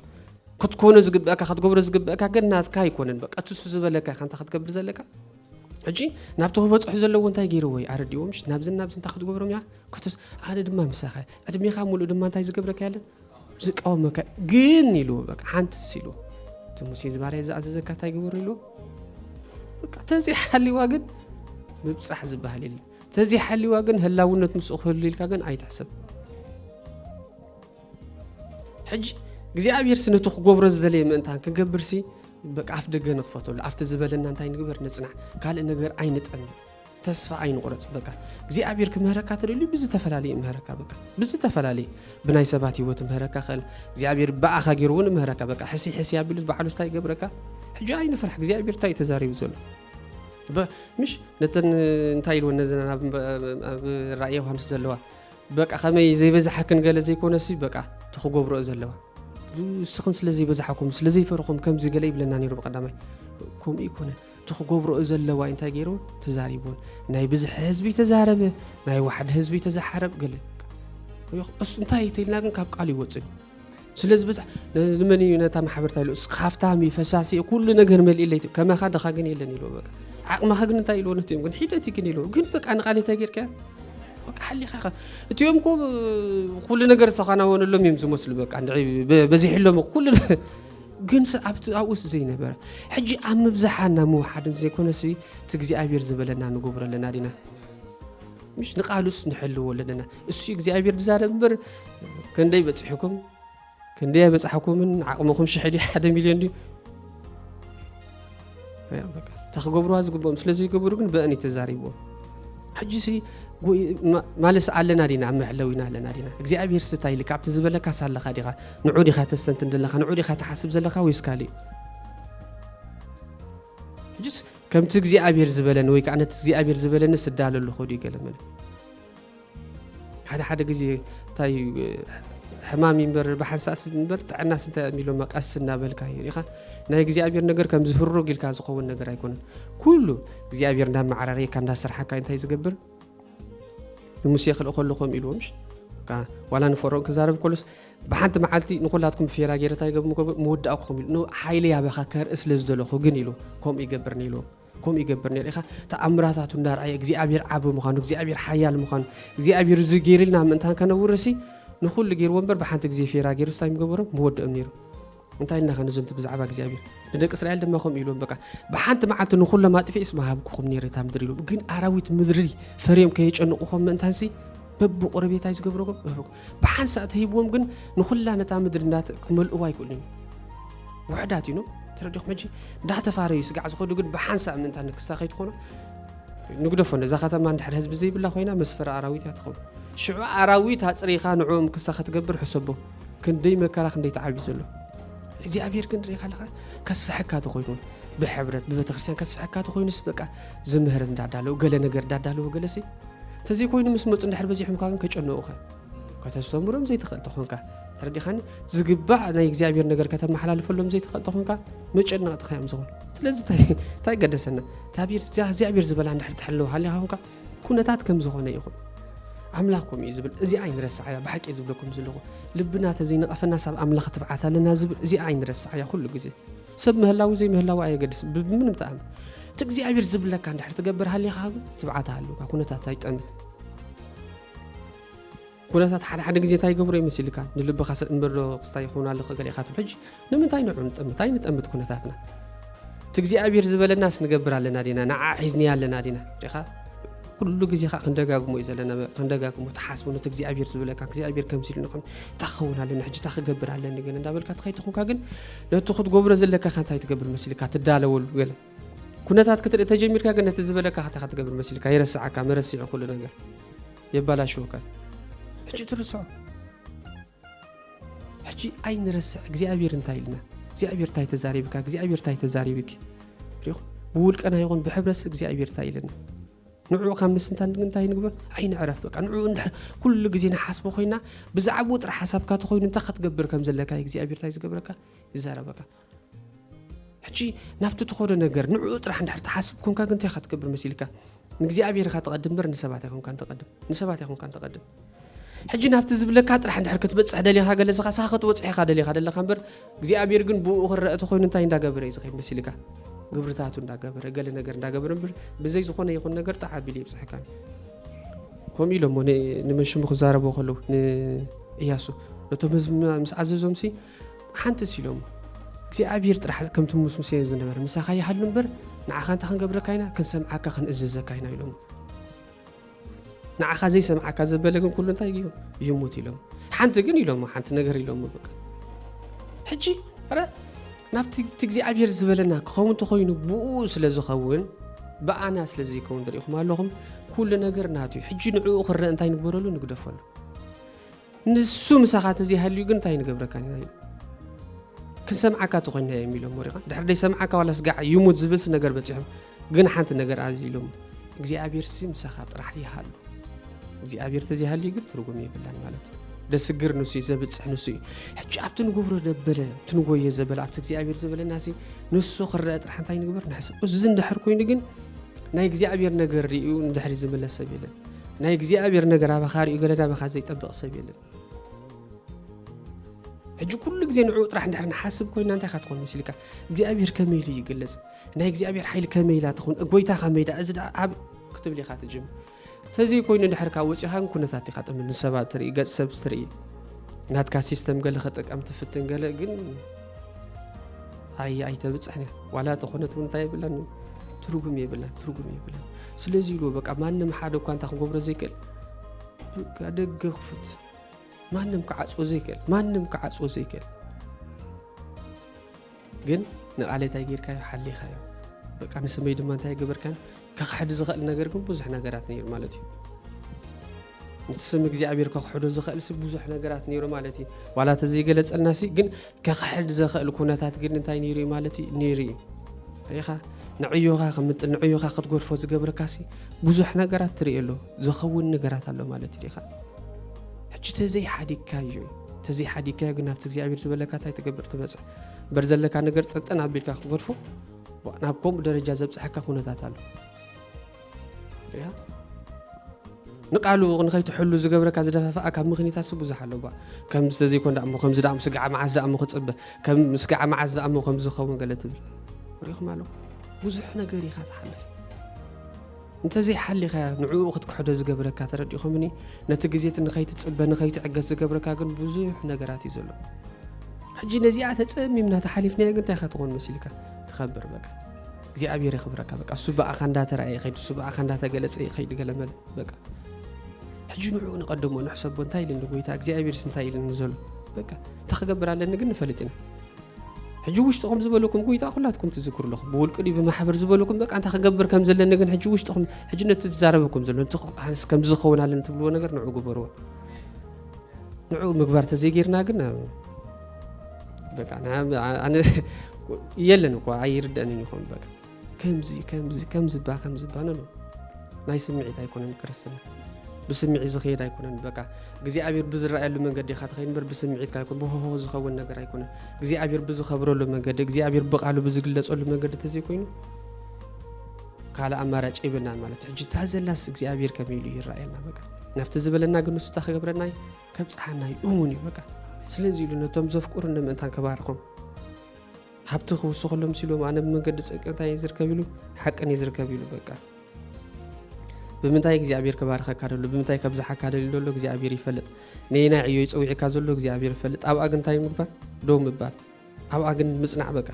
ክትኮነ ዝግብአካ ክትገብሮ ዝግብአካ ግን ናትካ ኣይኮነን በቃ ትሱ ዝበለካ ኢኻ እንታይ ክትገብር ዘለካ ሕጂ ናብቲ ክበፅሑ ዘለዎ እንታይ ገይርዎ እዩ ኣረዲዎም ናብዝን ናብዚ እንታይ ክትገብሮም እያ ኣነ ድማ ምሳኸ ዕድሜኻ ሙሉእ ድማ እንታይ ዝገብረካ ያለን ዝቃወመካ ግን ኢሉ በቃ ሓንትስ ኢሉ እቲ ሙሴ ዝባርያ ዝኣዘዘካ እንታይ ግብር ኢሉ በቃ ተዘይሓልዋ ግን ምብፃሕ ዝበሃል የለ ተዘይሓልዋ ግን ህላውነት ምስኡ ክህሉ ኢልካ ግን ኣይትሕሰብ ሕጂ እግዚኣብሔር ስነቱ ክገብሮ ዝደለየ ምእንታን ክገብር ሲ በቃ ኣፍ ደገ ንኽፈተሉ ኣብቲ ዝበለና እንታይ ንግበር ንፅናዕ ካልእ ነገር ኣይንጠን ተስፋ ኣይንቑረጽ በቃ እግዚኣብሔር ክምህረካ ተደልዩ ብዝተፈላለየ ይምህረካ በቃ ብዝተፈላለየ ብናይ ሰባት ህይወት ምህረካ ኸል እግዚኣብሔር ብኣኻ ገይሩ እውን ምህረካ በቃ ሕሲ ሕሲ ኣቢሉ ባዕሉ ስታይ ገብረካ ሕጂ ኣይንፍራሕ እግዚኣብሔር እንታይ ተዛሪቡ ዘሎ ምሽ ነተን እንታይ ኢልወን ነዘን ኣብ ራእየ ዮሃንስ ዘለዋ በቃ ከመይ ዘይበዛሓክን ገለ ዘይኮነሲ በቃ ተክገብረኦ ዘለዋ ንስኽን ስለ ዘይበዛሓኩም ስለ ዘይፈርኹም ከምዚ ገለ ይብለና ነይሩ ብቀዳማይ ከምኡ ይኮነን እቲ ክገብሮኦ ዘለዋይ እንታይ ገይሩ ተዛሪቡን ናይ ብዝሒ ህዝቢ ተዛረበ ናይ ዋሕዲ ህዝቢ ተዛሓረብ ገለ ስ እንታይ ተልና ግን ካብ ቃል ይወፅን ስለዚ በዛ ንመን እዩ ነታ ማሕበርታ ኢሉ ሃፍታም እዩ ፈሳሲ እዩ ኩሉ ነገር መልኢለይ ከማኻ ድኻ ግን የለን ኢሉ በቃ ዓቕምኻ ግን እንታይ ኢልዎ ነትዮም ግን ሒደት እዩ ግን ኢልዎ ግን በቃ ንቃል እንታይ ጌርካ በቃ ሓሊኻ ኢኻ እትኦም ኮ ኩሉ ነገር ዝተኻናወነሎም እዮም ዝመስሉ በቃ በዚሕሎም ኩሉ ግን ኣብቲ ኣብኡስ ዘይነበረ ሕጂ ኣብ ምብዛሓን ናብ ምውሓድን ዘይኮነሲ እቲ እግዚኣብሔር ዝበለና ንገብሮ ኣለና ዲና ምሽ ንቃሉስ ንሕልዎ ኣለና እሱ እግዚኣብሔር ዝዛረብ እምበር ክንደይ በፂሕኩም ክንደይ ኣይበፃሕኩምን ዓቕምኹም ሽሕ ድዩ ሓደ ሚልዮን ድዩ እታ ክገብርዋ ዝግብኦም ስለ ዘይገበሩ ግን በእን እዩ ተዛሪብዎ ሕጂ ሲ ማለስ ኣለና ዲና ኣብ መዕለዊና ኣለና ዲና እግዚኣብሄር ስታ ኢሊ ካብቲ ዝበለካ ሳለካ ዲኻ ንዑ ዲኻ ተስተንትን ዘለካ ንዑ ዲኻ ትሓስብ ዘለካ ወይስ ካልእ ሕጅስ ከምቲ እግዚኣብሄር ዝበለኒ ወይ ከዓ ነቲ እግዚኣብሄር ዝበለኒ ስዳለ ኣለኹ ድዩ ገለመለ ሓደ ሓደ ግዜ እንታይ ሕማም እምበር ብሓንሳእስ እምበር ጥዕናስ እንታይ እም ኢሎማ ቀስ እናበልካ እዩ ሪኢኻ ናይ እግዚኣብሔር ነገር ከም ዝህሩግ ኢልካ ዝኸውን ነገር ኣይኮነን ኩሉ እግዚኣብሔር እንዳመዓራረየካ እንዳስርሓካ እንታይ ዝገብር ንሙሴ ክልእ ከሎ ከምኡ ኢልዎ ምሽ ዋላ ንፈርኦን ክዛረብ ከሎስ ብሓንቲ መዓልቲ ንኩላትኩም ፌራ ገይረ እንታይ ገብር ምወዳእኩኹም ኢሉ ሓይለ ያበኻ ከርኢ ስለ ዝደለኹ ግን ኢሉ ከምኡ ይገብርኒ ኢልዎም ከምኡ ይገብር ነይሩ ኢኻ ተኣምራታቱ እንዳርኣየ እግዚኣብሔር ዓቢ ምዃኑ እግዚኣብሔር ሓያል ምዃኑ እግዚኣብሔር እዚ ገይርልና ምእንታን ከነውርሲ ንኹሉ ገይርዎ እምበር ብሓንቲ ግዜ ፌራ ገይሩ ስታይ ምገበሮም ምወድኦም ነይሩ እንታይ ኢልና ከንዝንቱ ብዛዕባ እግዚኣብሔር ንደቂ እስራኤል ድማ ከምኡ ኢልዎም በቃ ብሓንቲ መዓልቲ ንኹሎም ኣጥፊ እስማ ሃብኩኹም ነይረ እታ ምድሪ ኢሎም ግን ኣራዊት ምድሪ ፈርዮም ከየጨንቑኹም ምእንታንሲ በብቑረቤታይ ዝገብረኩም ብሓንሳእ ተሂብዎም ግን ንኹላ ነታ ምድሪ እንዳተ ክመልእዋ ኣይክእሉን እዮም ውሕዳት ኢኖም ተረዲኹም ሕጂ እንዳተፋረዩ ስጋዕ ዝኸዱ ግን ብሓንሳእ ምእንታ ንክስታ ከይትኾኑ ንግደፎ ነዛ ከተማ እንድሕር ህዝቢ ዘይብላ ኮይና መስፈሪ ኣራዊት እያ ትኸውን ሽዑ ኣራዊት ኣፅሪኻ ንዕኦም ክስታ ከትገብር ሕሰቦ ክንደይ መከራ ክንደይ ተዓቢ ዘሎ እግዚኣብሔር ግን ርኢኻ ኣለኻ ከስፍሐካ ተኮይኑ ብሕብረት ብቤተክርስትያን ከስፍሐካ ተኮይኑስ በቃ ዝምህር እንዳዳለው ገለ ነገር እንዳዳለው ገለሲ ተዘይኮይኑ ምስ መጹ እንድሕር በዚሖምካ ግን ከጨንቑኻ ከተስተምሮም ዘይትኽእል ተኾንካ ተረዲኻኒ ዝግባእ ናይ እግዚኣብሔር ነገር ከተመሓላልፈሎም ዘይትኽእል ተኾንካ መጨነቕትኻ እዮም ዝኾኑ ስለዚ እንታይ ገደሰና እግዚኣብሔር ዝበላ እንድሕር ትሕልው ሃሊኻ ኮንካ ኩነታት ከም ዝኾነ ይኹን ኣምላኽ ከምኡ እዩ ዝብል እዚኣ ኣይንረስዓያ ብሓቂ ዝብለኩም ዘለኹ ልብና ተዘይነቐፈና ሳብ ኣምላኽ ትብዓት ኣለና ዝብል እዚኣ ኣይንረስዓያ ኩሉ ግዜ ሰብ ምህላው ዘይምህላው ኣየገድስ ብምንም ጣዕሚ እቲ እግዚኣብሔር ዝብለካ እንድሕር ትገብር ሃሊኻ ግን ትብዓት ሃልውካ ኩነታት ኣይጠምት ኩነታት ሓደ ሓደ ግዜ እንታይ ይገብሮ ይመስልካ ንልብኻ ሰብ እምበር ዶ ክስታይ ይኸውን ኣሎ ገሊእኻ ትብል ሕጂ ንምንታይ ንዑ ንጠምት ኣይንጠምት ኩነታትና እቲ እግዚኣብሔር ዝበለናስ ንገብር ኣለና ዲና ንዓ ሒዝኒያ ኣለና ዲና ሪኻ ኩሉ ግዜ ከዓ ክንደጋግሞ እዩ ዘለና ክንደጋግሞ ተሓስቡ ነቲ እግዚኣብሔር ዝበለካ እግዚኣብሔር ከምዚ ኢሉ ንኸም እታ ክኸውን ኣለኒ ሕጂ እታ ክገብር ኣለኒ ግን እንዳበልካ ተኸይትኹንካ ግን ነቲ ክትገብሮ ዘለካኸ እንታይ ትገብር መሲልካ ትዳለወሉ ገለ ኩነታት ክትርኢ ተጀሚርካ ግን ነቲ ዝበለካኸ እንታይ ክትገብር መሲልካ ይረስዓካ መረሲዑ ኩሉ ነገር የባላሽወካ እዩ። ሕጂ ትርስዖ ሕጂ ኣይንረስዕ እግዚኣብሔር እንታይ ኢልና እግዚኣብሔር እንታይ ተዛሪብካ እግዚኣብሔር እንታይ ተዛሪብኪ ሪኹ ብውልቀና ይኹን ብሕብረት እግዚኣብሔር እንታይ ኢልና ንዕኡ ካብ ምስንታን ግን እንታይ ንግበር? ኣይንዕረፍ በቃ ንዕኡ እንድሕር ኩሉ ግዜ ንሓስቦ ኮይና ብዛዕባኡ ጥራሕ ሓሳብካ ተኮይኑ እንታይ ክትገብር ከም ዘለካ እዩ እግዚኣብሔር እንታይ ዝገብረካ ይዛረበካ ሕጂ ናብቲ ትኸዶ ነገር ንዕኡ ጥራሕ እንድሕር ትሓስብ ኮንካ ግን እንታይ ክትገብር መሲልካ ንእግዚኣብሔር ኢኻ ተቐድም በር ንሰባት ኣይኮንካን ተቐድም ንሰባት ኣይኮንካን ተቐድም ሕጂ ናብቲ ዝብለካ ጥራሕ እንድሕር ክትበጽሕ ደሊኻ ገለስኻ ስኻ ክትበጽሕ ኢኻ ደሊኻ ደለኻ እምበር እግዚኣብሔር ግን ብኡ ክረአ ተኮይኑ እንታይ እንዳገበረ እዩ ዝኸይድ መሲልካ ግብርታቱ እንዳገበረ ገለ ነገር እንዳገበረ እምበር ብዘይ ዝኾነ ይኹን ነገር ጣዕ ኣቢሉ የብጽሕካ ከምኡ ኢሎሞ ንመን ሽሙ ክዛረቦ ከለዉ ንእያሱ ነቶም ህዝቢ ምስ ኣዘዞም ሲ ሓንቲ ሲሎሞ እግዚኣብሔር ጥራሕ ከምቲ ምስ ሙሴ ዝነበረ ምሳኻ ይሃሉ እምበር ንዓኻ እንታይ ክንገብረካ ኢና ክንሰምዓካ ክንእዘዘካ ኢና ኢሎሞ ንዓኻ ዘይሰምዓካ ዘበለ ግን ኩሉ እንታይ ኢሉ ይሙት ኢሎም ሓንቲ ግን ኢሎሞ ሓንቲ ነገር ኢሎሞ በቃ ሕጂ ረ ናብቲ እቲ እግዚኣብሔር ዝበለና ክኸውን እንተኮይኑ ብኡ ስለ ዝኸውን ብኣና ስለ ዘይከውን ትሪኢኹም ኣለኹም ኩሉ ነገር ናቱ እዩ ሕጂ ንዕኡ ክረአ እንታይ ንግበረሉ ንግደፈሉ ንሱ ምሳኻ እንተዘይሃልዩ ግን እንታይ ንገብረካ ኢና እዩ ክንሰምዓካ ተኮይና እዮም ኢሎም ወሪቓ ድሕሪ ደይሰምዓካ ዋላ ስጋዕ ይሙት ዝብልሲ ነገር በፂሖም ግን ሓንቲ ነገር ኣዚ ኢሎም እግዚኣብሔር ሲ ምሳኻ ጥራሕ ይሃሉ እግዚኣብሔር ተዘይሃልዩ ግን ትርጉም የብላን ማለት እዩ ደስግር ንሱ እዩ ዘብፅሕ ንሱ እዩ ሕጂ ኣብቲ ንገብሮ ደበለ እቲ ንጎዮ ዘበለ ኣብቲ እግዚኣብሔር ዘበለና ሲ ንሱ ክረአ ጥራሕ እንታይ ንግበር ንሕሰብ እዚ እንድሕር ኮይኑ ግን ናይ እግዚኣብሔር ነገር ርእዩ ንድሕሪ ዝምለስ ሰብ የለን ናይ እግዚኣብሔር ነገር ኣባኻ ሪኡ ገለ ናባኻ ዘይጠብቕ ሰብ የለን ሕጂ ኩሉ ግዜ ንዕኡ ጥራሕ እንድሕር ንሓስብ ኮይና እንታይ ካ ትኾን መሲልካ እግዚኣብሔር ከመይ ኢሉ ይግለጽ ናይ እግዚኣብሔር ሓይሊ ከመይ ኢላ ትኹን ጎይታ ከመይ ዳ እዚ ኣብ ክትብል ኢኻ ትጅምር ተዘይ ኮይኑ ድሕር ካብ ወፂኻን ኩነታት ኢኻ ጥምል ንሰባት ትርኢ ገጽ ሰብ ትርኢ ናትካ ሲስተም ገለ ከጠቀም ትፍትን ገለ ግን ኣይ ኣይተብፅሕ ዋላ ተኾነት እውን እንታይ የብላን እዩ ትርጉም የብላን ትርጉም የብላን ስለዚ ኢሉ በቃ ማንም ሓደ እኳ እንታይ ክገብሮ ዘይክእል ደገ ክፉት ማንም ክዓፅዎ ዘይክእል ማንም ክዓፅዎ ዘይክእል ግን ንቃሌታይ ጌርካዮ ሓሊኻዮ በቃ ንስመይ ድማ እንታይ ገበርካን ከኽሕድ ዝኸእል ነገር ግን ብዙሕ ነገራት ነይሩ ማለት እዩ። ነቲ ስም እግዚኣብሔር ከኽሕዶ ዝኸእልሲ ብዙሕ ነገራት ነይሩ ማለት እዩ ዋላ ተዘይገለጸልናሲ ግን ከኽሕድ ዘኸእል ኩነታት ግን እንታይ ነይሩ እዩ ማለት እዩ ነይሩ እዩ ርኢኻ ንዕዮኻ ክምጥል ንዕዮኻ ክትጎድፎ ዝገብረካሲ ብዙሕ ነገራት ትርኢ ኣሎ ዝኸውን ነገራት ኣሎ ማለት እዩ ርኢኻ ሕጂ ተዘይሓዲግካዮ እዩ ተዘይሓዲግካዮ ግን ናብቲ እግዚኣብሔር ዝበለካ እንታይ ትገብር ትበፅሕ እምበር ዘለካ ነገር ጠጠን ኣቢልካ ክትጎድፎ ናብ ከምኡ ደረጃ ዘብፅሐካ ኩነታት ኣሎ ያ ንቃሉ ንኸይትሕሉ ዝገብረካ ዝደፋፍኣ ካብ ምክንያታትሲ ብዙሕ ኣሎ ባ ከምዚ ተዘይኮን ዳእሞ ከምዚ ዳእሞ ስጋዓ መዓዝ ዳእሞ ክፅበ ከም ስጋዓ መዓዝ ዳእሞ ከምዚ ዝኸውን ገለ ትብል ሪኹም ኣለኹ ብዙሕ ነገር ኢኻ ትሓልፍ እንተዘይ ሓሊኻያ ንዕኡ ክትክሕዶ ዝገብረካ ተረዲኹምኒ ነቲ ግዜት ንኸይትጽበ ንኸይትዕገስ ዝገብረካ ግን ብዙሕ ነገራት እዩ ዘሎ ሕጂ ነዚኣ ተጸሚምና ተሓሊፍናዮ ግን እንታይ ከትኾን መሲልካ ትኸብር በቃ እግዚኣብሔር የኽብረካ በቃ እሱ ብኣኻ እንዳተረኣየ ይኸይድ እሱ ብኣኻ እንዳተገለጸ ይኸይድ ገለመለ በቃ ሕጂ ንዕኡ ንቐድሞ ንሕሰቦ እንታይ ኢልኒ ጎይታ እግዚኣብሔርስ እንታይ ኢልኒ ዘሎ በቃ እንታይ ክገብር ኣለኒ ግን ንፈልጥ ኢና ሕጂ ውሽጥኹም ዝበለኩም ጎይታ ኩላትኩም ትዝክሩ ኣለኹም ብውልቂ ድዩ ብማሕበር ዝበለኩም በቃ እንታይ ክገብር ከም ዘለኒ ግን ሕጂ ውሽጥኹም ሕጂ ነቲ ትዛረበኩም ዘሎ ነቲ ኣነስ ከምዚ ዝኸውን ኣለኒ ትብልዎ ነገር ንዑ ግበርዎ ንዑ ምግባር ተዘይጌርና ግን በቃ ኣነ የለን እኳ ኣይርደእንን ይኸውን በቃ ከምዚ ከምዚ ከምዚባ ከምዚባ ነኖ ናይ ስምዒት ኣይኮነን ክርስትና ብስምዒት ዝኸየድ ኣይኮነን በቃ እግዚኣብሔር ብዝረኣየሉ መንገዲ ኢኻ ትኸይድ እምበር ብስምዒትካ ኣይኮን ብሆሆ ዝኸውን ነገር ኣይኮነን እግዚኣብሔር ብዝኸብረሉ መንገዲ እግዚኣብሔር ብቃሉ ብዝግለፀሉ መንገዲ እንተዘይኮይኑ ካልእ ኣማራጭ የብልናን ማለት እዩ ሕጂ እታ ዘላስ እግዚኣብሔር ከመይ ኢሉ ይረኣየልና በቃ ናብቲ ዝበለና ግን ንሱ እታ ክገብረና እዩ ከብፅሓና እዩ እውን እዩ በቃ ስለዚ ኢሉ ነቶም ዘፍቅሩ ንምእንታን ከባርኾም ሃብቲ ክውስኸሎም ምስ ኢሎም ኣነ ብመንገዲ ጽድቂ እንታይ እየ ዝርከብ ኢሉ ሓቅን እየ ዝርከብ ኢሉ በቃ ብምንታይ እግዚኣብሔር ክባርኸካ ደሎ ብምንታይ ከብዝሓካ ደልዩ ደሎ እግዚኣብሔር ይፈልጥ ነየናይ ዕዮ ይፀዊዕካ ዘሎ እግዚኣብሔር ይፈልጥ ኣብኣ ግን እንታይ ምግባር ዶ ምባል ኣብኣ ግን ምፅናዕ በቃ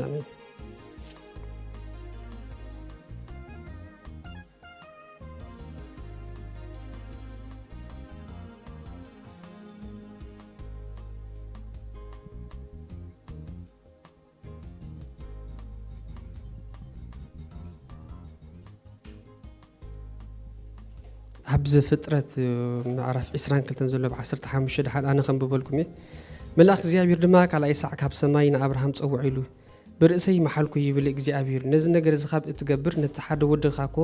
ኣሜን ኣብ ዘፍጥረት ምዕራፍ 22 ዘሎ ብ 15 ድሓን ኣነ ከንብበልኩም እየ መልኣኽ እግዚኣብሔር ድማ ካልኣይ ሳዕ ካብ ሰማይ ንኣብርሃም ጸውዕ ኢሉ ብርእሰይ መሓልኩ ይብል እግዚኣብሄር፣ ነዚ ነገር እዚ ኻብ እትገብር ነቲ ሓደ ወድኻ እኮ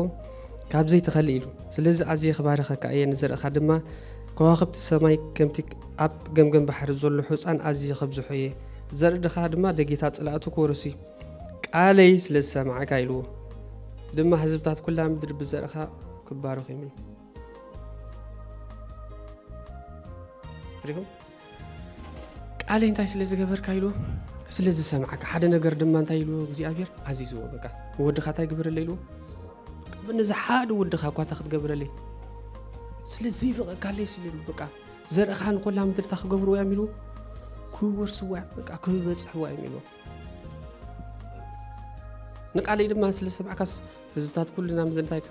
ካብ ዘይትኸልእ ኢሉ። ስለዚ ኣዝየ ክባርኸካ እየ፣ ንዘርእኻ ድማ ከዋኽብቲ ሰማይ ከምቲ ኣብ ገምገም ባሕሪ ዘሎ ሑጻን ኣዝየ ከብዝሖ እየ፣ ዘርእኻ ድማ ደጌታት ጸላእቱ ክወርስ እዩ። ቃለይ ስለ ዝሰማዕካ ኢልዎ ድማ ህዝብታት ኩላ ምድሪ ብዘርእኻ ክባረኹ ይምሉ። ቃለይ እንታይ ስለ ዝገበርካ ኢሉ ስለ ዝሰምዓካ ሓደ ነገር ድማ እንታይ ኢልዎ እግዚኣብሔር ኣዚዝዎ በቃ ወድኻ እንታይ ግበረለ ኢልዎ ነዚ ሓደ ወድኻ እኳ እታ ክትገብረለይ ስለ ዘይበቐካለይ ስለ በቃ ዘርእኻ ንኮላ ምድርታ ክገብርዎ እዮም ኢልዎ ክወርስዋ እዮም በቃ ክበፅሕዋ እዮም ኢልዎ ንቃለይ ድማ ስለ ሰማዕካስ ህዝብታት ኩልና ምንታይ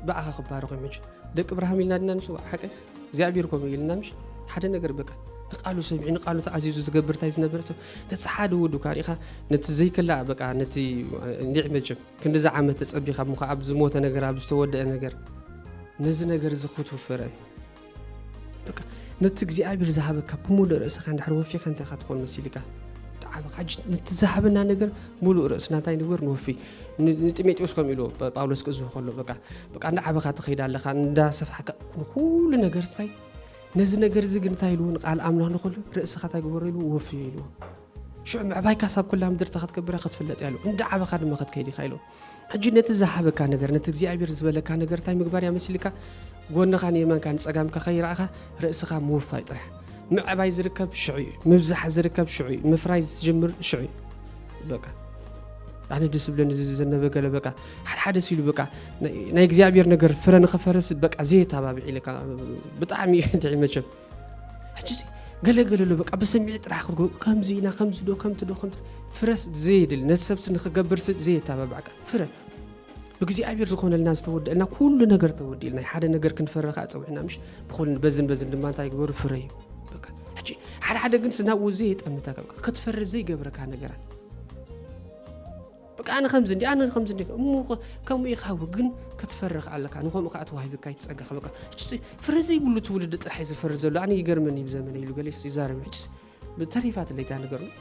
ብኣኻ ክባረኹ እዮም ሕጂ ደቂ ብርሃም ኢልና ድና ንፅዋዕ ሓቂ እግዚኣብሔር ከምኡ ኢልና ምሽ ሓደ ነገር በቃ ንቃሉ ሰሚዑ ንቃሉ ተኣዚዙ ዝገብር እንታይ ዝነበረ ሰብ ነቲ ሓደ ወዱ ካሪእኻ ነቲ ዘይከላእ በቃ ነቲ እንዲዕ መቸም ክንዲዚ ዓመት ተፀቢኻ እሞ ኣብ ዝሞተ ነገር ኣብ ዝተወደአ ነገር ነዚ ነገር እዚ ክትውፍረ በቃ ነቲ እግዚኣብሔር ዝሃበካ ብምሉእ ርእስኻ እንድሕር ወፊኻ እንታይ ካ ትኾን መሲልካ ተዓበ ካጅ ነቲ ዝሃበና ነገር ምሉእ ርእስና እንታይ ንግበር ንወፊ ንጢሜጢዎስ ከም ኢሉ ጳውሎስ ክእዝሆ ከሎ በቃ በቃ እንዳዓበኻ ትኸይድ ኣለኻ እንዳሰፍሓካ ንኩሉ ነገር ስታይ ነዚ ነገር እዚ ግን እንታይ ኢልዎ ንቃል ኣምላኽ ንክሉ ርእስኻ እንታይ ግበሮ ኢልዎ ወፍዮ ኢልዎ ሽዑ ምዕባይካ ሳብ ኩላ ምድሪ እታ ክትገብራ ክትፍለጥ እያ ኢሉ እንዳዓበኻ ድማ ክትከይድ ኢኻ ኢልዎ ሕጂ ነቲ ዝሃበካ ነገር ነቲ እግዚኣብሔር ዝበለካ ነገር እንታይ ምግባር እያ መሲልካ ጎንኻ ንየማንካ ንጸጋምካ ከይረኣኻ ርእስኻ ምውፋይ ጥራሕ ምዕባይ ዝርከብ ሽዑ እዩ ምብዛሕ ዝርከብ ሽዑ እዩ ምፍራይ ዝትጅምር ሽዑ እዩ በቃ ኣነ ደስ ብለኒ እዚ ዝዘነበ ገለ በቃ ሓደሓደ ሲሉ በቃ ናይ እግዚኣብሔር ነገር ፍረ ንክፈርስ በቃ ዘየተባብዒ ኢለካ ብጣዕሚ እዩ ድዒ መቸም ሕጂሲ ገለ ገለ ኣሎ በቃ ብስምዒት ጥራሕ ክርጎ ከምዚ ኢና ከምዚ ዶ ከምቲ ዶ ከምቲ ፍረስ ዘየድል ነቲ ሰብሲ ንክገብር ዘየተባባዕ ቃል ፍረ ብእግዚኣብሔር ዝኾነልና ዝተወደልና ኩሉ ነገር ተወዲልና እዩ ሓደ ነገር ክንፈረ ከዓ ፀዊዕና ምሽ ብኩሉ በዝን በዝን ድማ እንታይ ግበሩ ፍረ እዩ በቃ ሕጂ ሓደ ሓደ ግን ስናብኡ ዘየጠምተካ ክትፈሪ ዘይገብረካ ነገራት በቃ ኣነ ከምዚ እንዲ ኣነ ከምዚ እንዲ እሞ ከምኡ ኢኻ እወ ግን ክትፈርኽ ኣለካ ንከምኡ ከዓ ተዋሂብካ እቲ ፀጋኻ በቃ ሕጂ ፍረ ዘይብሉ ትውልዲ ጥራሕ እዩ ዝፈሪ ዘሎ ኣነ ይገርመኒ ብዘመነ ኢሉ ገሌስ ይዛረብ ሕጂ ተሪፋትለይ እታ ነገር ነው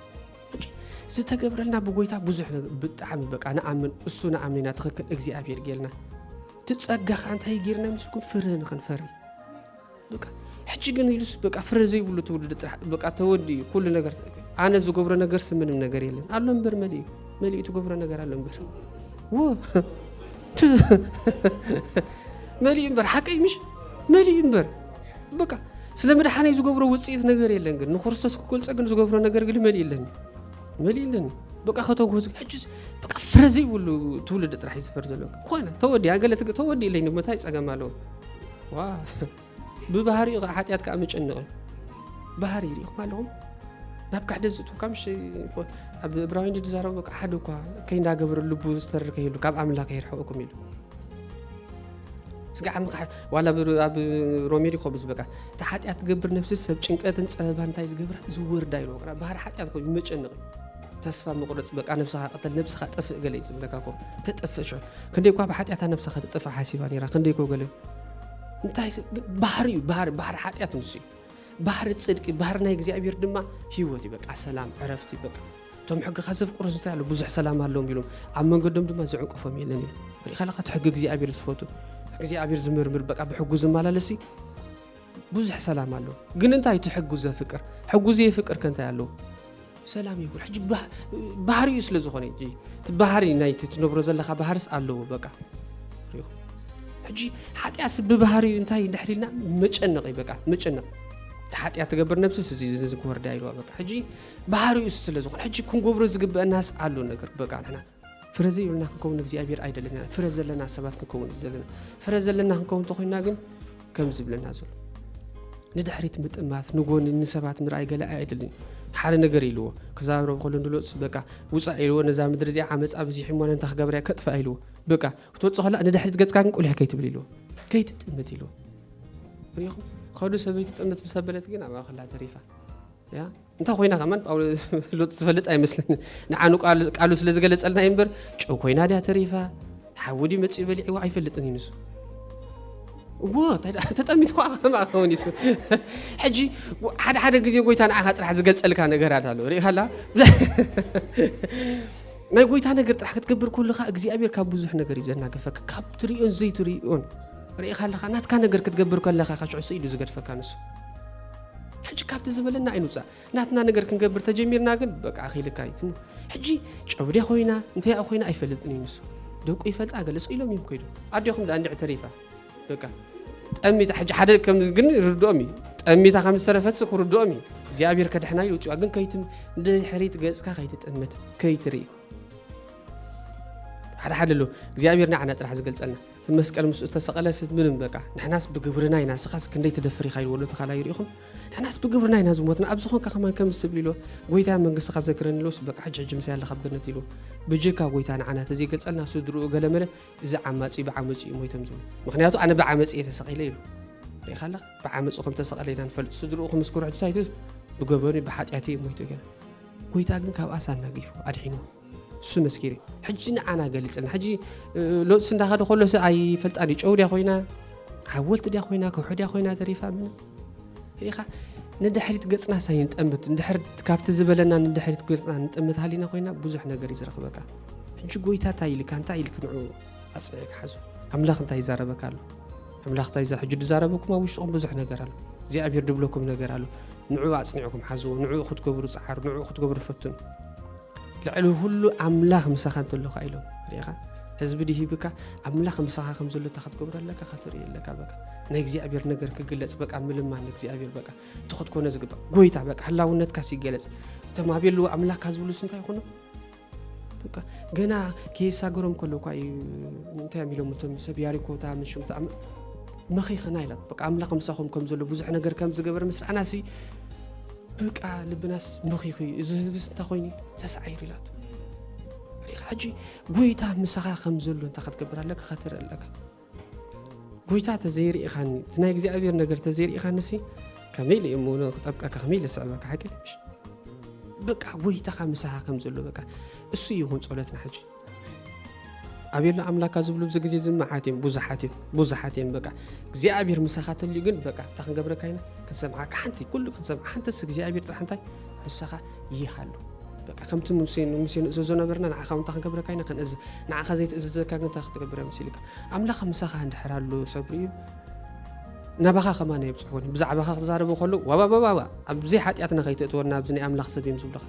ዝተገብረልና ብጎይታ ብዙሕ ነገር ብጣዕሚ በቃ ንኣምን እሱ ንኣምን ኢና ትኽክል እግዚኣብሔር ጌልና እቲ ፀጋኻ እንታይ ጌርና ምስልኩም ፍረ ንኽንፈሪ በቃ ሕጂ ግን ኢሉስ በቃ ፍረ ዘይብሉ ትውልዲ ጥራሕ በቃ ተወዲ እዩ ኩሉ ነገር ኣነ ዝገብሮ ነገርሲ ምንም ነገር የለን ኣሎ እምበር መሊኡ መሊኡ ትገብሮ ነገር ኣሎ እምበር ወ መሊኡ እምበር ሓቀይ ምሽ መሊኡ እምበር በቃ ስለ መድሓነይ ዝገብሮ ውፅኢት ነገር የለን ግን ንክርስቶስ ክገልፀ ግን ዝገብሮ ነገር ግን መሊኡ ኣለኒ መሊኡ ኣለኒ በቃ ከተጉዝ ሕጅስ በቃ ፍረ ዘይብሉ ትውልዲ ጥራሕ እዩ ዝፈር ዘሎ ኮነ ተወዲ ኣገለ ተወዲ ኢለኝ ንመታይ ፀገም ኣለዎ ብባህሪኡ ከዓ ሓጢኣት ከዓ መጨነቕ እዩ ባህሪ ሪኢኹም ኣለኹም ናብ ካሕደ ዝእትው ካብ ምሽ ኣብ እብራውያን ዝዛረቡ በቃ ሓደ እኳ ከይንዳገበረ ልቡ ዝተርክ ይህሉ ካብ ኣምላኽ የርሕቕኩም ኢሉ ስጋዕ ምካሕ ዋላ ኣብ ሮሜ ሪኮብ ዝበቃ እቲ ሓጢኣት ትገብር ነብሲ ሰብ ጭንቀትን ፀበባ እንታይ ዝገብራ ዝወርዳ ኢሉ ባህሪ ሓጢኣት ኮይኑ መጨነቕ እዩ ተስፋ ምቁርጽ በቃ ነብስኻ ቅተል ነብስኻ ጥፍእ ገለ ይጽብለካ ኮ ተጥፍእ ሸ ክንደይ እኳ ብሓጢኣታ ነብሳ ከተጥፍእ ሓሲባ ነራ ክንደይ ኮ ገለ እንታይ ባህሪ እዩ ባህሪ ባህሪ ሓጢኣት ንሱ እዩ ባህሪ ጽድቂ ባህሪ ናይ እግዚኣብሔር ድማ ህይወት እዩ በቃ ሰላም ዕረፍቲ በቃ እቶም ሕግኻ ዘፍቅሩ እንታይ ኣሎ ብዙሕ ሰላም ኣለዎም ኢሎም ኣብ መንገዶም ድማ ዝዕንቅፎም የለን ኢሉ ሪኢኻ ለካ እቲ ሕጊ እግዚኣብሔር ዝፈቱ እግዚኣብሔር ዝምርምር በቃ ብሕጉ ዝመላለስ እዩ ብዙሕ ሰላም ኣሎ ግን እንታይ እቲ ሕጉ ዘፍቅር ሕጉ ዘይፍቅር ከ እንታይ ኣለዎ ሰላም ይብሉ ሕጂ ባህሪኡ ስለ ዝኾነ እዩ እቲ ባህሪ ናይቲ ትነብሮ ዘለካ ባህርስ ኣለዎ በቃ ሪኹ ሕጂ ሓጢኣት ስብ ብባህሪኡ እንታይ እንድሕር ኢልና መጨነቕ እዩ በቃ መጨነቕ እቲ ሓጢኣት ትገብር ነብስስ እዚ እዚ ክወርዳ ኢልዋ በቃ ሕጂ ባህሪኡ ስለ ዝኾነ ሕጂ ክንገብሮ ዝግበአናስ ኣሎ ነገር በቃ ንሕና ፍረ ዘይብልና ክንከውን እግዚኣብሔር ኣይደለና ፍረ ዘለና ሰባት ክንከውን ዘለና ፍረ ዘለና ክንከውን እንተኮይና ግን ከም ዝብለና ዘሎ ንድሕሪት ምጥማት ንጎኒ ንሰባት ምርኣይ ገለ ኣይደልን ሓደ ነገር ኢልዎ ክዛረብ ከሎ ንሎፅ በቃ ውፃእ ኢልዎ ነዛ ምድሪ እዚኣ ዓመፃ ብዚሕ እሞ ንታ ክገብርያ ከጥፍኣ ኢልዎ በቃ ክትወፅእ ከላ ንድሕሪት ገፅካ ግን ቁልሕ ከይትብል ኢልዎ ከይትጥምት ኢልዎ ሪኹም ከዱ ሰበይቲ ጥምት ምስ ኣበለት ግን ኣብኣ ከላ ተሪፋ ያ እንታይ ኮይና ከማን ጳውሎስ ሎጥ ዝፈልጥ ኣይመስለኒ ንዓኑ ቃሉ ስለ ዝገለጸልና እዩ እምበር ጨው ኮይና ድያ ተሪፋ ሓዊ ድዩ መጺኡ በሊዕዎ ኣይፈልጥን እዩ ንሱ እዎ ተጠሚት ኳ ከማ ከውን ይሱ ሕጂ ሓደ ሓደ ግዜ ጎይታ ንዓኻ ጥራሕ ዝገልጸልካ ነገራት ኣሎ ርኢኻላ ናይ ጎይታ ነገር ጥራሕ ክትገብር ከለኻ እግዚኣብሔር ካብ ብዙሕ ነገር እዩ ዘናገፈካ ካብ ትሪኦን ዘይትሪኦን ርኢኻ ኣለኻ ናትካ ነገር ክትገብር ከለኻ ካሽዑ ስኢሉ ዝገድፈካ ንሱ ሕጂ ካብቲ ዝበለና ኣይንውጻእ ናትና ነገር ክንገብር ተጀሚርና ግን በቃ ክኢልካ እዩ ሕጂ ጨብዴ ኮይና እንተይኣ ኮይና ኣይፈልጥን እዩ ንሱ ደቁ ይፈልጣ ገለ ስቕ ኢሎም እዮም ከይዱ ኣዴኹም ደኣ እንድዕ ተሪፋ በቃ ጠሚታ ሕጂ ሓደ ከም ግን ርድኦም እዩ ጠሚታ ከም ዝተረፈት ክርድኦም እዩ እግዚኣብሔር ከድሕና ኢሉ ውፅዋ ግን ከይት ድሕሪት ገፅካ ከይትጥምት ከይትርኢ ሓደ ሓደ ኣሎ እግዚኣብሔር ንዓና ጥራሕ ዝገልፀልና እቲ መስቀል ምስኡ ተሰቐለስ እቲ ምንም በቃ ንሕናስ ብግብርና ኢና ስኻስ ክንደይ ትደፍር ኢኻ ኢልዎ ዶ ተኻላይ ርኢኹም ንሕናስ ብግብርና ኢና ዝሞትና ኣብዚ ኾንካ ከማን ከምዚ ትብል ኢልዎ ጎይታ መንግስትኻ ዘክረኒ ኢልዎስ በቃ ሕጂ ሕጂ ምሳይ ኣለኻ ኣብ ገነት ኢልዎ ብጀካ ጎይታ ንዓና ተዘይገልጸልና ስድርኡ ገለመለ እዚ ዓማጺ ብዓመጹ እዩ ሞይቶም ዝብሉ ምኽንያቱ ኣነ ብዓመጺ እየ ተሰቒለ ኢሉ ርኢኻ ኣለኻ ብዓመጹ ከም ተሰቐለ ኢና ንፈልጥ ስድርኡ ክምስክሩ ሕጂ ታይቱ ብገበኑ ብሓጢኣቱ እዩ ሞይቱ ገለ ጎይታ ግን ካብ ኣሳ ኣናጊፉ ኣድሒንዎ ሱን መስኪሪ ሕጂ ንዓና ገሊጽልና ሕጂ ሎጽስ እንዳኸደ ከሎ ስ ኣይፈልጣን እዩ ጨው ድያ ኮይና ሓወልቲ ድያ ኮይና ከውሒ ድያ ኮይና ተሪፋ ምንም ሪኻ ንድሕሪት ገጽና ሳይ ንጠምት ንድሕሪት ካብቲ ዝበለና ንድሕሪት ገጽና ንጠምት ሃሊና ኮይና ብዙሕ ነገር እዩ ዝረኽበካ ሕጂ ጎይታ እንታይ ኢልካ እንታይ ኢልክ ንዑ ኣጽኒዕ ክሓዙ ኣምላኽ እንታይ ይዛረበካ ኣሎ ኣምላኽ እንታይ ዛ ሕጂ ዝዛረበኩም ኣብ ውሽጥኹም ብዙሕ ነገር ኣሎ እግዚኣብሔር ድብለኩም ነገር ኣሎ ንዑ ኣጽኒዕኩም ሓዝዎ ንዑ ክትገብሩ ጸዓሩ ንዑ ክትገብሩ ፈትኑ ልዕሊ ኩሉ ኣምላኽ ምሳኻ እንተሎካ ኢሎም ርኢኻ ህዝቢ ድሂብካ ኣምላኽ ምሳኻ ከም ዘሎ እታ ክትገብሮ ኣለካ ክትርኢ ኣለካ በቃ ናይ እግዚኣብሔር ነገር ክግለጽ በቃ ምልማን እግዚኣብሔር በቃ እቲ ክትኮነ ዝግባእ ጎይታ በቃ ህላውነትካስ ይገለጽ እቶም ኣብ የለዎ ኣምላካ ዝብሉስ እንታይ ይኾኑ በቃ ገና ከየሳገሮም ከሎ እኳ እዩ እንታይ እዮም ኢሎም እቶም ሰብ ያሪኮታ ምሽምታ መኺኽና ኢሎም በቃ ኣምላኽ ምሳኹም ከም ዘሎ ብዙሕ ነገር ከም ዝገበረ ምስ ረኣናሲ በቃ ልብናስ በኺኹ እዩ እዚ ህዝብስ እንታይ ኮይኑ እዩ ተሳዒሩ ኢላቶ ሪኻ ሕጂ ጎይታ ምሳኻ ከም ዘሎ እንታይ ክትገብር ኣለካ ከትርኢ ኣለካ ጎይታ ተዘይርኢኻኒ እቲ ናይ እግዚኣብሔር ነገር ተዘይርኢኻኒ ሲ ከመይ ኢለ እሞ ክጠብቀካ ከመይ ኢለ ስዕበካ ሓቂ በቃ ጎይታኻ ምሳኻ ከም ዘሎ በቃ እሱ ይኹን ጸሎትና ሕጂ ኣቤላ ኣምላካ ዝብሉ ኣብዚ ግዜ እዚ መዓት እዮም ብዙሓት እዮም ብዙሓት እዮም በቃ እግዚኣብሔር ምሳኻ ተልዩ ግን በቃ እንታይ ክንገብረካ ኢና ክንሰምዓካ ሓንቲ ኩሉ ክንሰምዓ ሓንተስ እግዚኣብሔር ጥራሕ እንታይ ምሳኻ ይሃሉ በቃ ከምቲ ሙሴ ሙሴ ንእዘዞ ነበርና ንዓኻ እንታይ ክንገብረካ ኢና ክንእዝ ንዓኻ ዘይትእዝዘካ ግን እንታይ ክትገብር እዮም ሲልካ ኣምላኽ ምሳኻ እንድሕር ኣሎ ሰብሪ እዩ ናባኻ ከማን የብፅሑኒ ብዛዕባኻ ክዛረቡ ከለዉ ዋባባባባ ኣብዘይ ሓጢኣትና ከይትእትወና ኣብዚ ናይ ኣምላኽ ሰብ እዮም ዝብሉኻ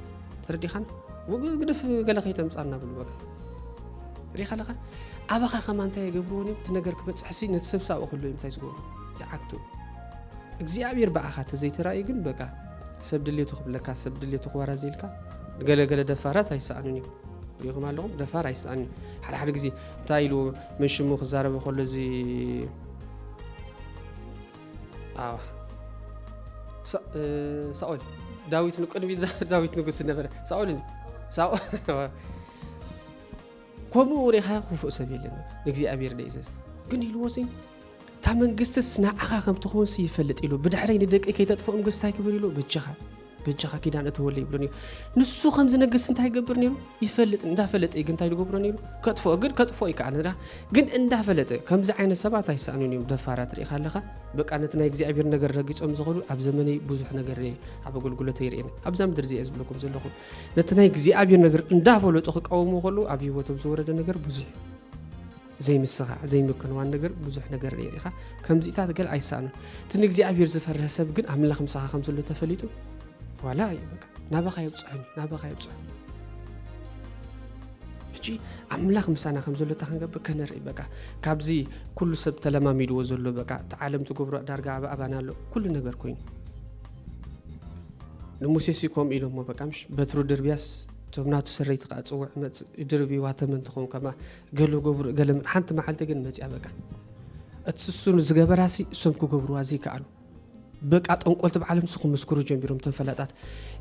ተረዲኻን ግደፍ ገለ ከይተምፃና ብሉ በቃ ሪኻ ኣለኻ ኣባኻ ከማ እንታይ የገብርዎን እዮም እቲ ነገር ክበፅሕሲ ነቲ ሰብ ሳብኡ ክህሉ እዮም እንታይ ዝገብሩ ይዓግቱ እግዚኣብሔር ብኣኻ ተዘይተራእዩ ግን በቃ ሰብ ድሌቱ ክብለካ ሰብ ድሌቱ ክወራዘልካ ገለገለ ደፋራት ኣይሰኣኑን እዩ ሪኹም ኣለኹም ደፋር ኣይሰኣን እዩ ሓደ ሓደ ግዜ እንታይ ኢሉ መንሽሙ ክዛረበ ከሎ እዚ ሳኦል ዳዊት ቅድሚ ዳዊት ንጉስ ዝነበረ ሳኦል ከምኡ ሪኻ ክፉእ ሰብ የለን ንእግዚኣብሔር ደይዘዝ ግን ኢልዎ ሲ እታ መንግስትስ ንዓኻ ከም ትኸውን ይፈልጥ ኢሉ ብድሕረይ ንደቂ ከይተጥፍኦም ግስታይ ክብል ኢሉ በጃኻ በጃኻ ኪዳን እተወለ ይብሎ ነይሩ ንሱ ከም ዝነግስ እንታይ ይገብር ነይሩ ይፈልጥ እንዳፈለጠ እዩ ግን እንታይ ዝገብሮ ነይሩ ከጥፎ ግን ከጥፎ እዩ ከዓ ንዳ ግን እንዳፈለጠ ከምዚ ዓይነት ሰባት ኣይሰኣኑን እዮም ደፋራት ርኢኻ ኣለኻ በቃ ነቲ ናይ እግዚኣብሔር ነገር ረጊፆም ዝኸዱ ኣብ ዘመነይ ብዙሕ ነገር ርየ ኣብ ኣገልግሎተ ይርእየኒ ኣብዛ ምድር እዚኣ ዝብለኩም ዘለኹ ነቲ ናይ እግዚኣብሔር ነገር እንዳፈለጡ ክቃወሙ ከሉ ኣብ ህይወቶም ዝወረደ ነገር ብዙሕ እዩ ዘይምስኻዕ ዘይምክንዋን ነገር ብዙሕ ነገር ርኤ ኢኻ ከምዚታት ገል ኣይሰኣኑን እቲ ንእግዚኣብሔር ዝፈርህ ሰብ ግን ኣምላኽ ምሳኻ ከም ዘሎ ተፈሊጡ ዋላ እዩ በቃ ናባኻ የብፅሑን እዩ ናባኻ የብፅሑን ሕጂ ኣምላኽ ምሳና ከም ዘሎ እታ ክንገብር ከነርኢ በቃ ካብዚ ኩሉ ሰብ ተለማሚድዎ ዘሎ በቃ እቲ ዓለም ትገብሮ ዳርጋ ኣብ ኣባና ኣሎ ኩሉ ነገር ኮይኑ ንሙሴ ሲ ከምኡ ኢሎሞ በቃ ምሽ በትሩ ድርብያስ እቶም ናቱ ሰረይቲ ከዓ ፅውዕ መፅ ድርብዋ ተመን ትኸውን ከማ ገለ ገብሩ ገለ ምን ሓንቲ መዓልቲ ግን መጽያ በቃ እቲ ስሱን ዝገበራሲ እሶም ክገብርዋ ዘይከኣሉ በቃ ጠንቆልቲ ብዓለም ሱ ክምስክሩ ጀሚሮም እቶም ፈላጣት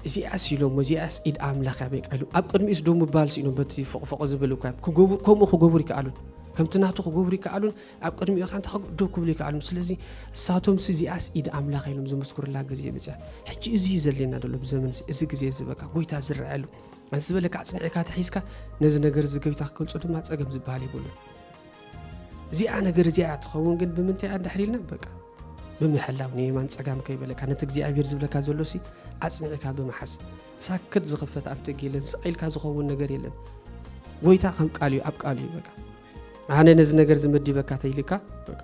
እዚኣስ ኢሎም እዚኣስ ኢድ ኣምላኽ እያ በቃ ኢሎም ኣብ ቅድሚኡስ ዶ ምባል ስኢኖም በቲ ፎቕፎቕ ዝብል እኳ ክገብሩ ከምኡ ክገብሩ ይከኣሉን ከምቲ ናቱ ክገብሩ ይከኣሉን ኣብ ቅድሚኡ ካንታ ዶ ክብሉ ይከኣሉን ስለዚ እሳቶም ሲ እዚኣስ ኢድ ኣምላኽ ኢሎም ዝምስክሩላ ግዜ መፅያ ሕጂ እዚ እዩ ዘድልየና ደሎ ብዘመን እዚ ግዜ እዚ በቃ ጎይታ ዝረኣየሉ ነቲ ዝበለካ ኣጽኒዕካ ተሒዝካ ነዚ ነገር እዚ ገቢታ ክገልጾ ድማ ጸገም ዝበሃል የብሉን እዚኣ ነገር እዚኣ እያ ትኸውን ግን ብምንታይ እያ እንድሕር ኢልና በቃ ብምሕላው ንየማን ጸጋም ከይበለካ ነቲ እግዚኣብሔር ዝብለካ ዘሎ ሲ ኣጽኒዕካ ብምሓዝ ሳክት ዝኽፈት ኣፍ ደግ የለን ስቕ ኢልካ ዝኸውን ነገር የለን ጎይታ ከም ቃል እዩ ኣብ ቃል እዩ በቃ ኣነ ነዚ ነገር ዝመዲበካ ተይልካ በቃ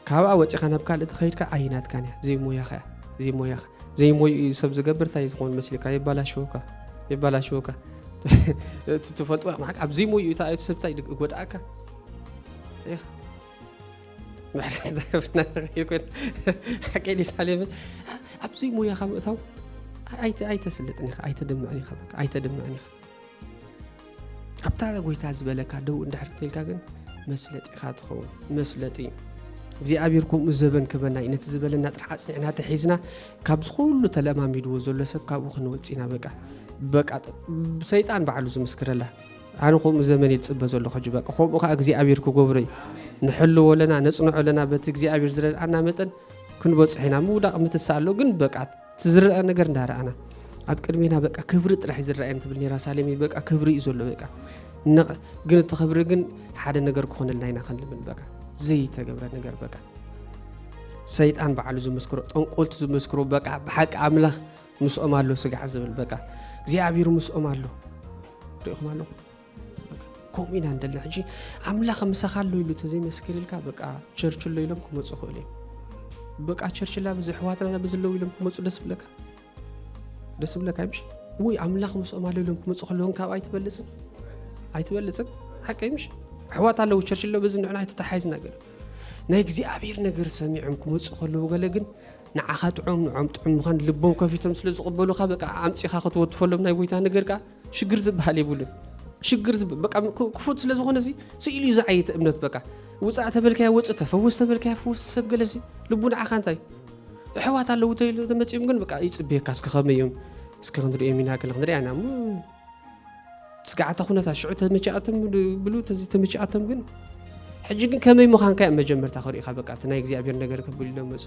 ካብኣ ወጺኻ ናብ ካልእ ተኸይድካ ኣይናትካን እያ ዘይሞያኻ እያ ዘይሞያኻ ዘይሞይኡ እዩ ሰብ ዝገብር እንታይ ዝኸውን መስልካ የባላሽወካ የባላሽወካ እቲ ትፈልጥዋ ማዕቅ ኣብ ዘይሞይኡ እታ እቲ ሰብ እንታይ ይጎድኣካ ኢኻ ምሕረት ዳገብርና ንኽእል ኮይና ሓቀይ ዲሳሌምን ኣብ ዘይሞያኻ ምእታው ኣይተስልጥን ኢኻ ኣይተደምዕን ኢኻ ኣይተደምዕን ኢኻ ኣብታ ጎይታ ዝበለካ ደው እንድሕር ትልካ ግን መስለጢ ኢኻ ትኸውን መስለጢ እግዚኣብሔር ከምኡ ዘበን ክበና እዩ ነቲ ዝበለና ጥራሕ ኣፅኒዕና ተሒዝና ካብ ዝኩሉ ተለማሚድዎ ዘሎ ሰብ ካብኡ ክንወፅና በቃ በቃ ሰይጣን ባዕሉ ዝምስክረላ ኣነ ከምኡ ዘመን እየ ዝፅበ ዘለኹ ሕጂ በቃ ከምኡ ከዓ እግዚኣብሔር ክገብሮ እዩ ንሕልዎ ኣለና ነፅንዖ ኣለና በቲ እግዚኣብሔር ዝረድኣና መጠን ክንበፅሖ ኢና ምውዳቕ ምትሳ ኣሎ ግን በቃ እቲ ዝረኣ ነገር እንዳረኣና ኣብ ቅድሜና በቃ ክብሪ ጥራሕ ዝረኣየን ትብል ነራ ሳሌም በቃ ክብሪ እዩ ዘሎ በቃ ግን እቲ ክብሪ ግን ሓደ ነገር ክኾነልና ኢና ክንልምን በቃ ዘይተገብረ ነገር በቃ ሰይጣን በዓሉ ዝመስክሮ ጠንቆልቲ ዝመስክሮ በቃ ብሓቂ ኣምላኽ ምስኦም ኣሎ ስጋዕ ዝብል በቃ እግዚኣብሔር ምስኦም ኣሎ ሪኢኹም ኣለኹም ከምኡ ኢና ንደሊ ሕጂ ኣምላኽ ምሳኻ ኣሎ ኢሉ ተዘይመስክርልካ በቃ ቸርች ኣሎ ኢሎም ክመፁ ክእሉ እዮም በቃ ቸርች ላ ብዚ ሕዋትና ብዝለው ኢሎም ክመፁ ደስ ብለካ ደስ ብለካ ይምሽ ወይ ኣምላኽ ምስኦም ኣሎ ኢሎም ክመፁ ከለውን ካብ ኣይትበልፅን ኣይትበልፅን ሓቂ ይምሽ ሕዋት ኣለዉ ቸርች ኣሎ በዚ ንዕና ኣይተተሓይዝ ነገር ናይ እግዚኣብሔር ነገር ሰሚዖም ክመፁ ከለዉ ገለ ግን ንዓኻ ጥዑም ንዖም ጥዑም ምዃን ልቦም ከፊቶም ስለ ዝቕበሉኻ በቃ ኣምፂኻ ክትወትፈሎም ናይ ጎይታ ነገር ከዓ ሽግር ዝበሃል የብሉን ሽግር ክፉት ስለ ዝኾነ እዚ ስኢሉ እዩ ዝዓይተ እምነት በቃ ውፃእ ተበልካያ ወፅ ተፈወስ ተበልካያ ፈወስ ሰብ ገለሲ ልቡ ንዓኻ እንታይ ኣሕዋት ኣለዉ ተመፅኦም ግን በቃ ይፅበየካ እስከ ከመይ እዮም እስከ ክንሪኦም ኢና ገለ ክንሪኣ ኢና እሞ ስጋዓተ ኩነታ ሽዑ ተመቻኣቶም ብሉ ተዚ ተመቻኣቶም ግን ሕጂ ግን ከመይ ምዃንካ እዮም መጀመርታ ክሪኢኻ በቃ እቲ ናይ እግዚኣብሔር ነገር ከብሉ ኢሎም መፁ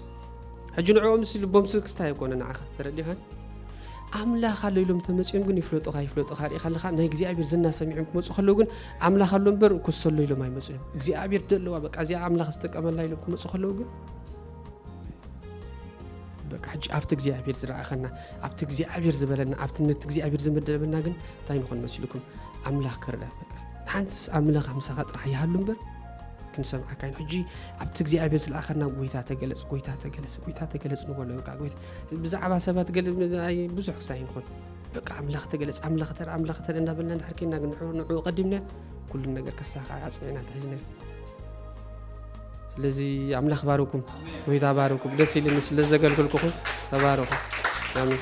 ሕጂ ንዕኦም ምስ ልቦም ስክስታ ይኮነ ንዓኻ ተረዲኻን ኣምላኽ ኣሎ ኢሎም እንተመጺኦም ግን ይፍለጡኻ ይፍለጡኻ ርኢኻ ኣለኻ ናይ እግዚኣብሔር ዝና ሰሚዖም ክመጹ ከለዉ ግን ኣምላኽ ኣሎ እምበር ኮስተሎ ኢሎም ኣይመጹ እዮም እግዚኣብሔር ደለዋ በቃ እዚኣ ኣምላኽ ዝጠቀመላ ኢሎም ክመጹ ከለዉ ግን በቃ ሕጂ ኣብቲ እግዚኣብሔር ዝረኣኸና ኣብቲ እግዚኣብሔር ዝበለና ኣብቲ ነቲ እግዚኣብሔር ዝመደበና ግን እንታይ ንኾን መሲልኩም ኣምላኽ ክርዳ በቃ ሓንትስ ኣምላኽ ምሳኻ ጥራሕ ይሃሉ እምበር ክንሰምዓካ ኢና ሕጂ ኣብቲ እግዚኣብሔር ዝለኣኸና ጎይታ ተገለጽ ጎይታ ተገለጽ ጎይታ ተገለጽ ንበሎ በቃ ጎይታ ብዛዕባ ሰባት ገለ ኣይ ብዙሕ ክሳይ ይኹን በቃ ኣምላኽ ተገለጽ ኣምላኽ ተር ኣምላኽ ተር እንዳበልና እንድሕር ኬና ግን ንዑ- ንዑ ቀዲምና ኩሉ ነገር ክሳኻዕ ኣጽኒዕና ተሒዝና ስለዚ ኣምላኽ ባርኩም ጎይታ ባርኩም ደስ ኢልኒ ስለ ዘገልግልኩኹም ተባረኹ ኣሜን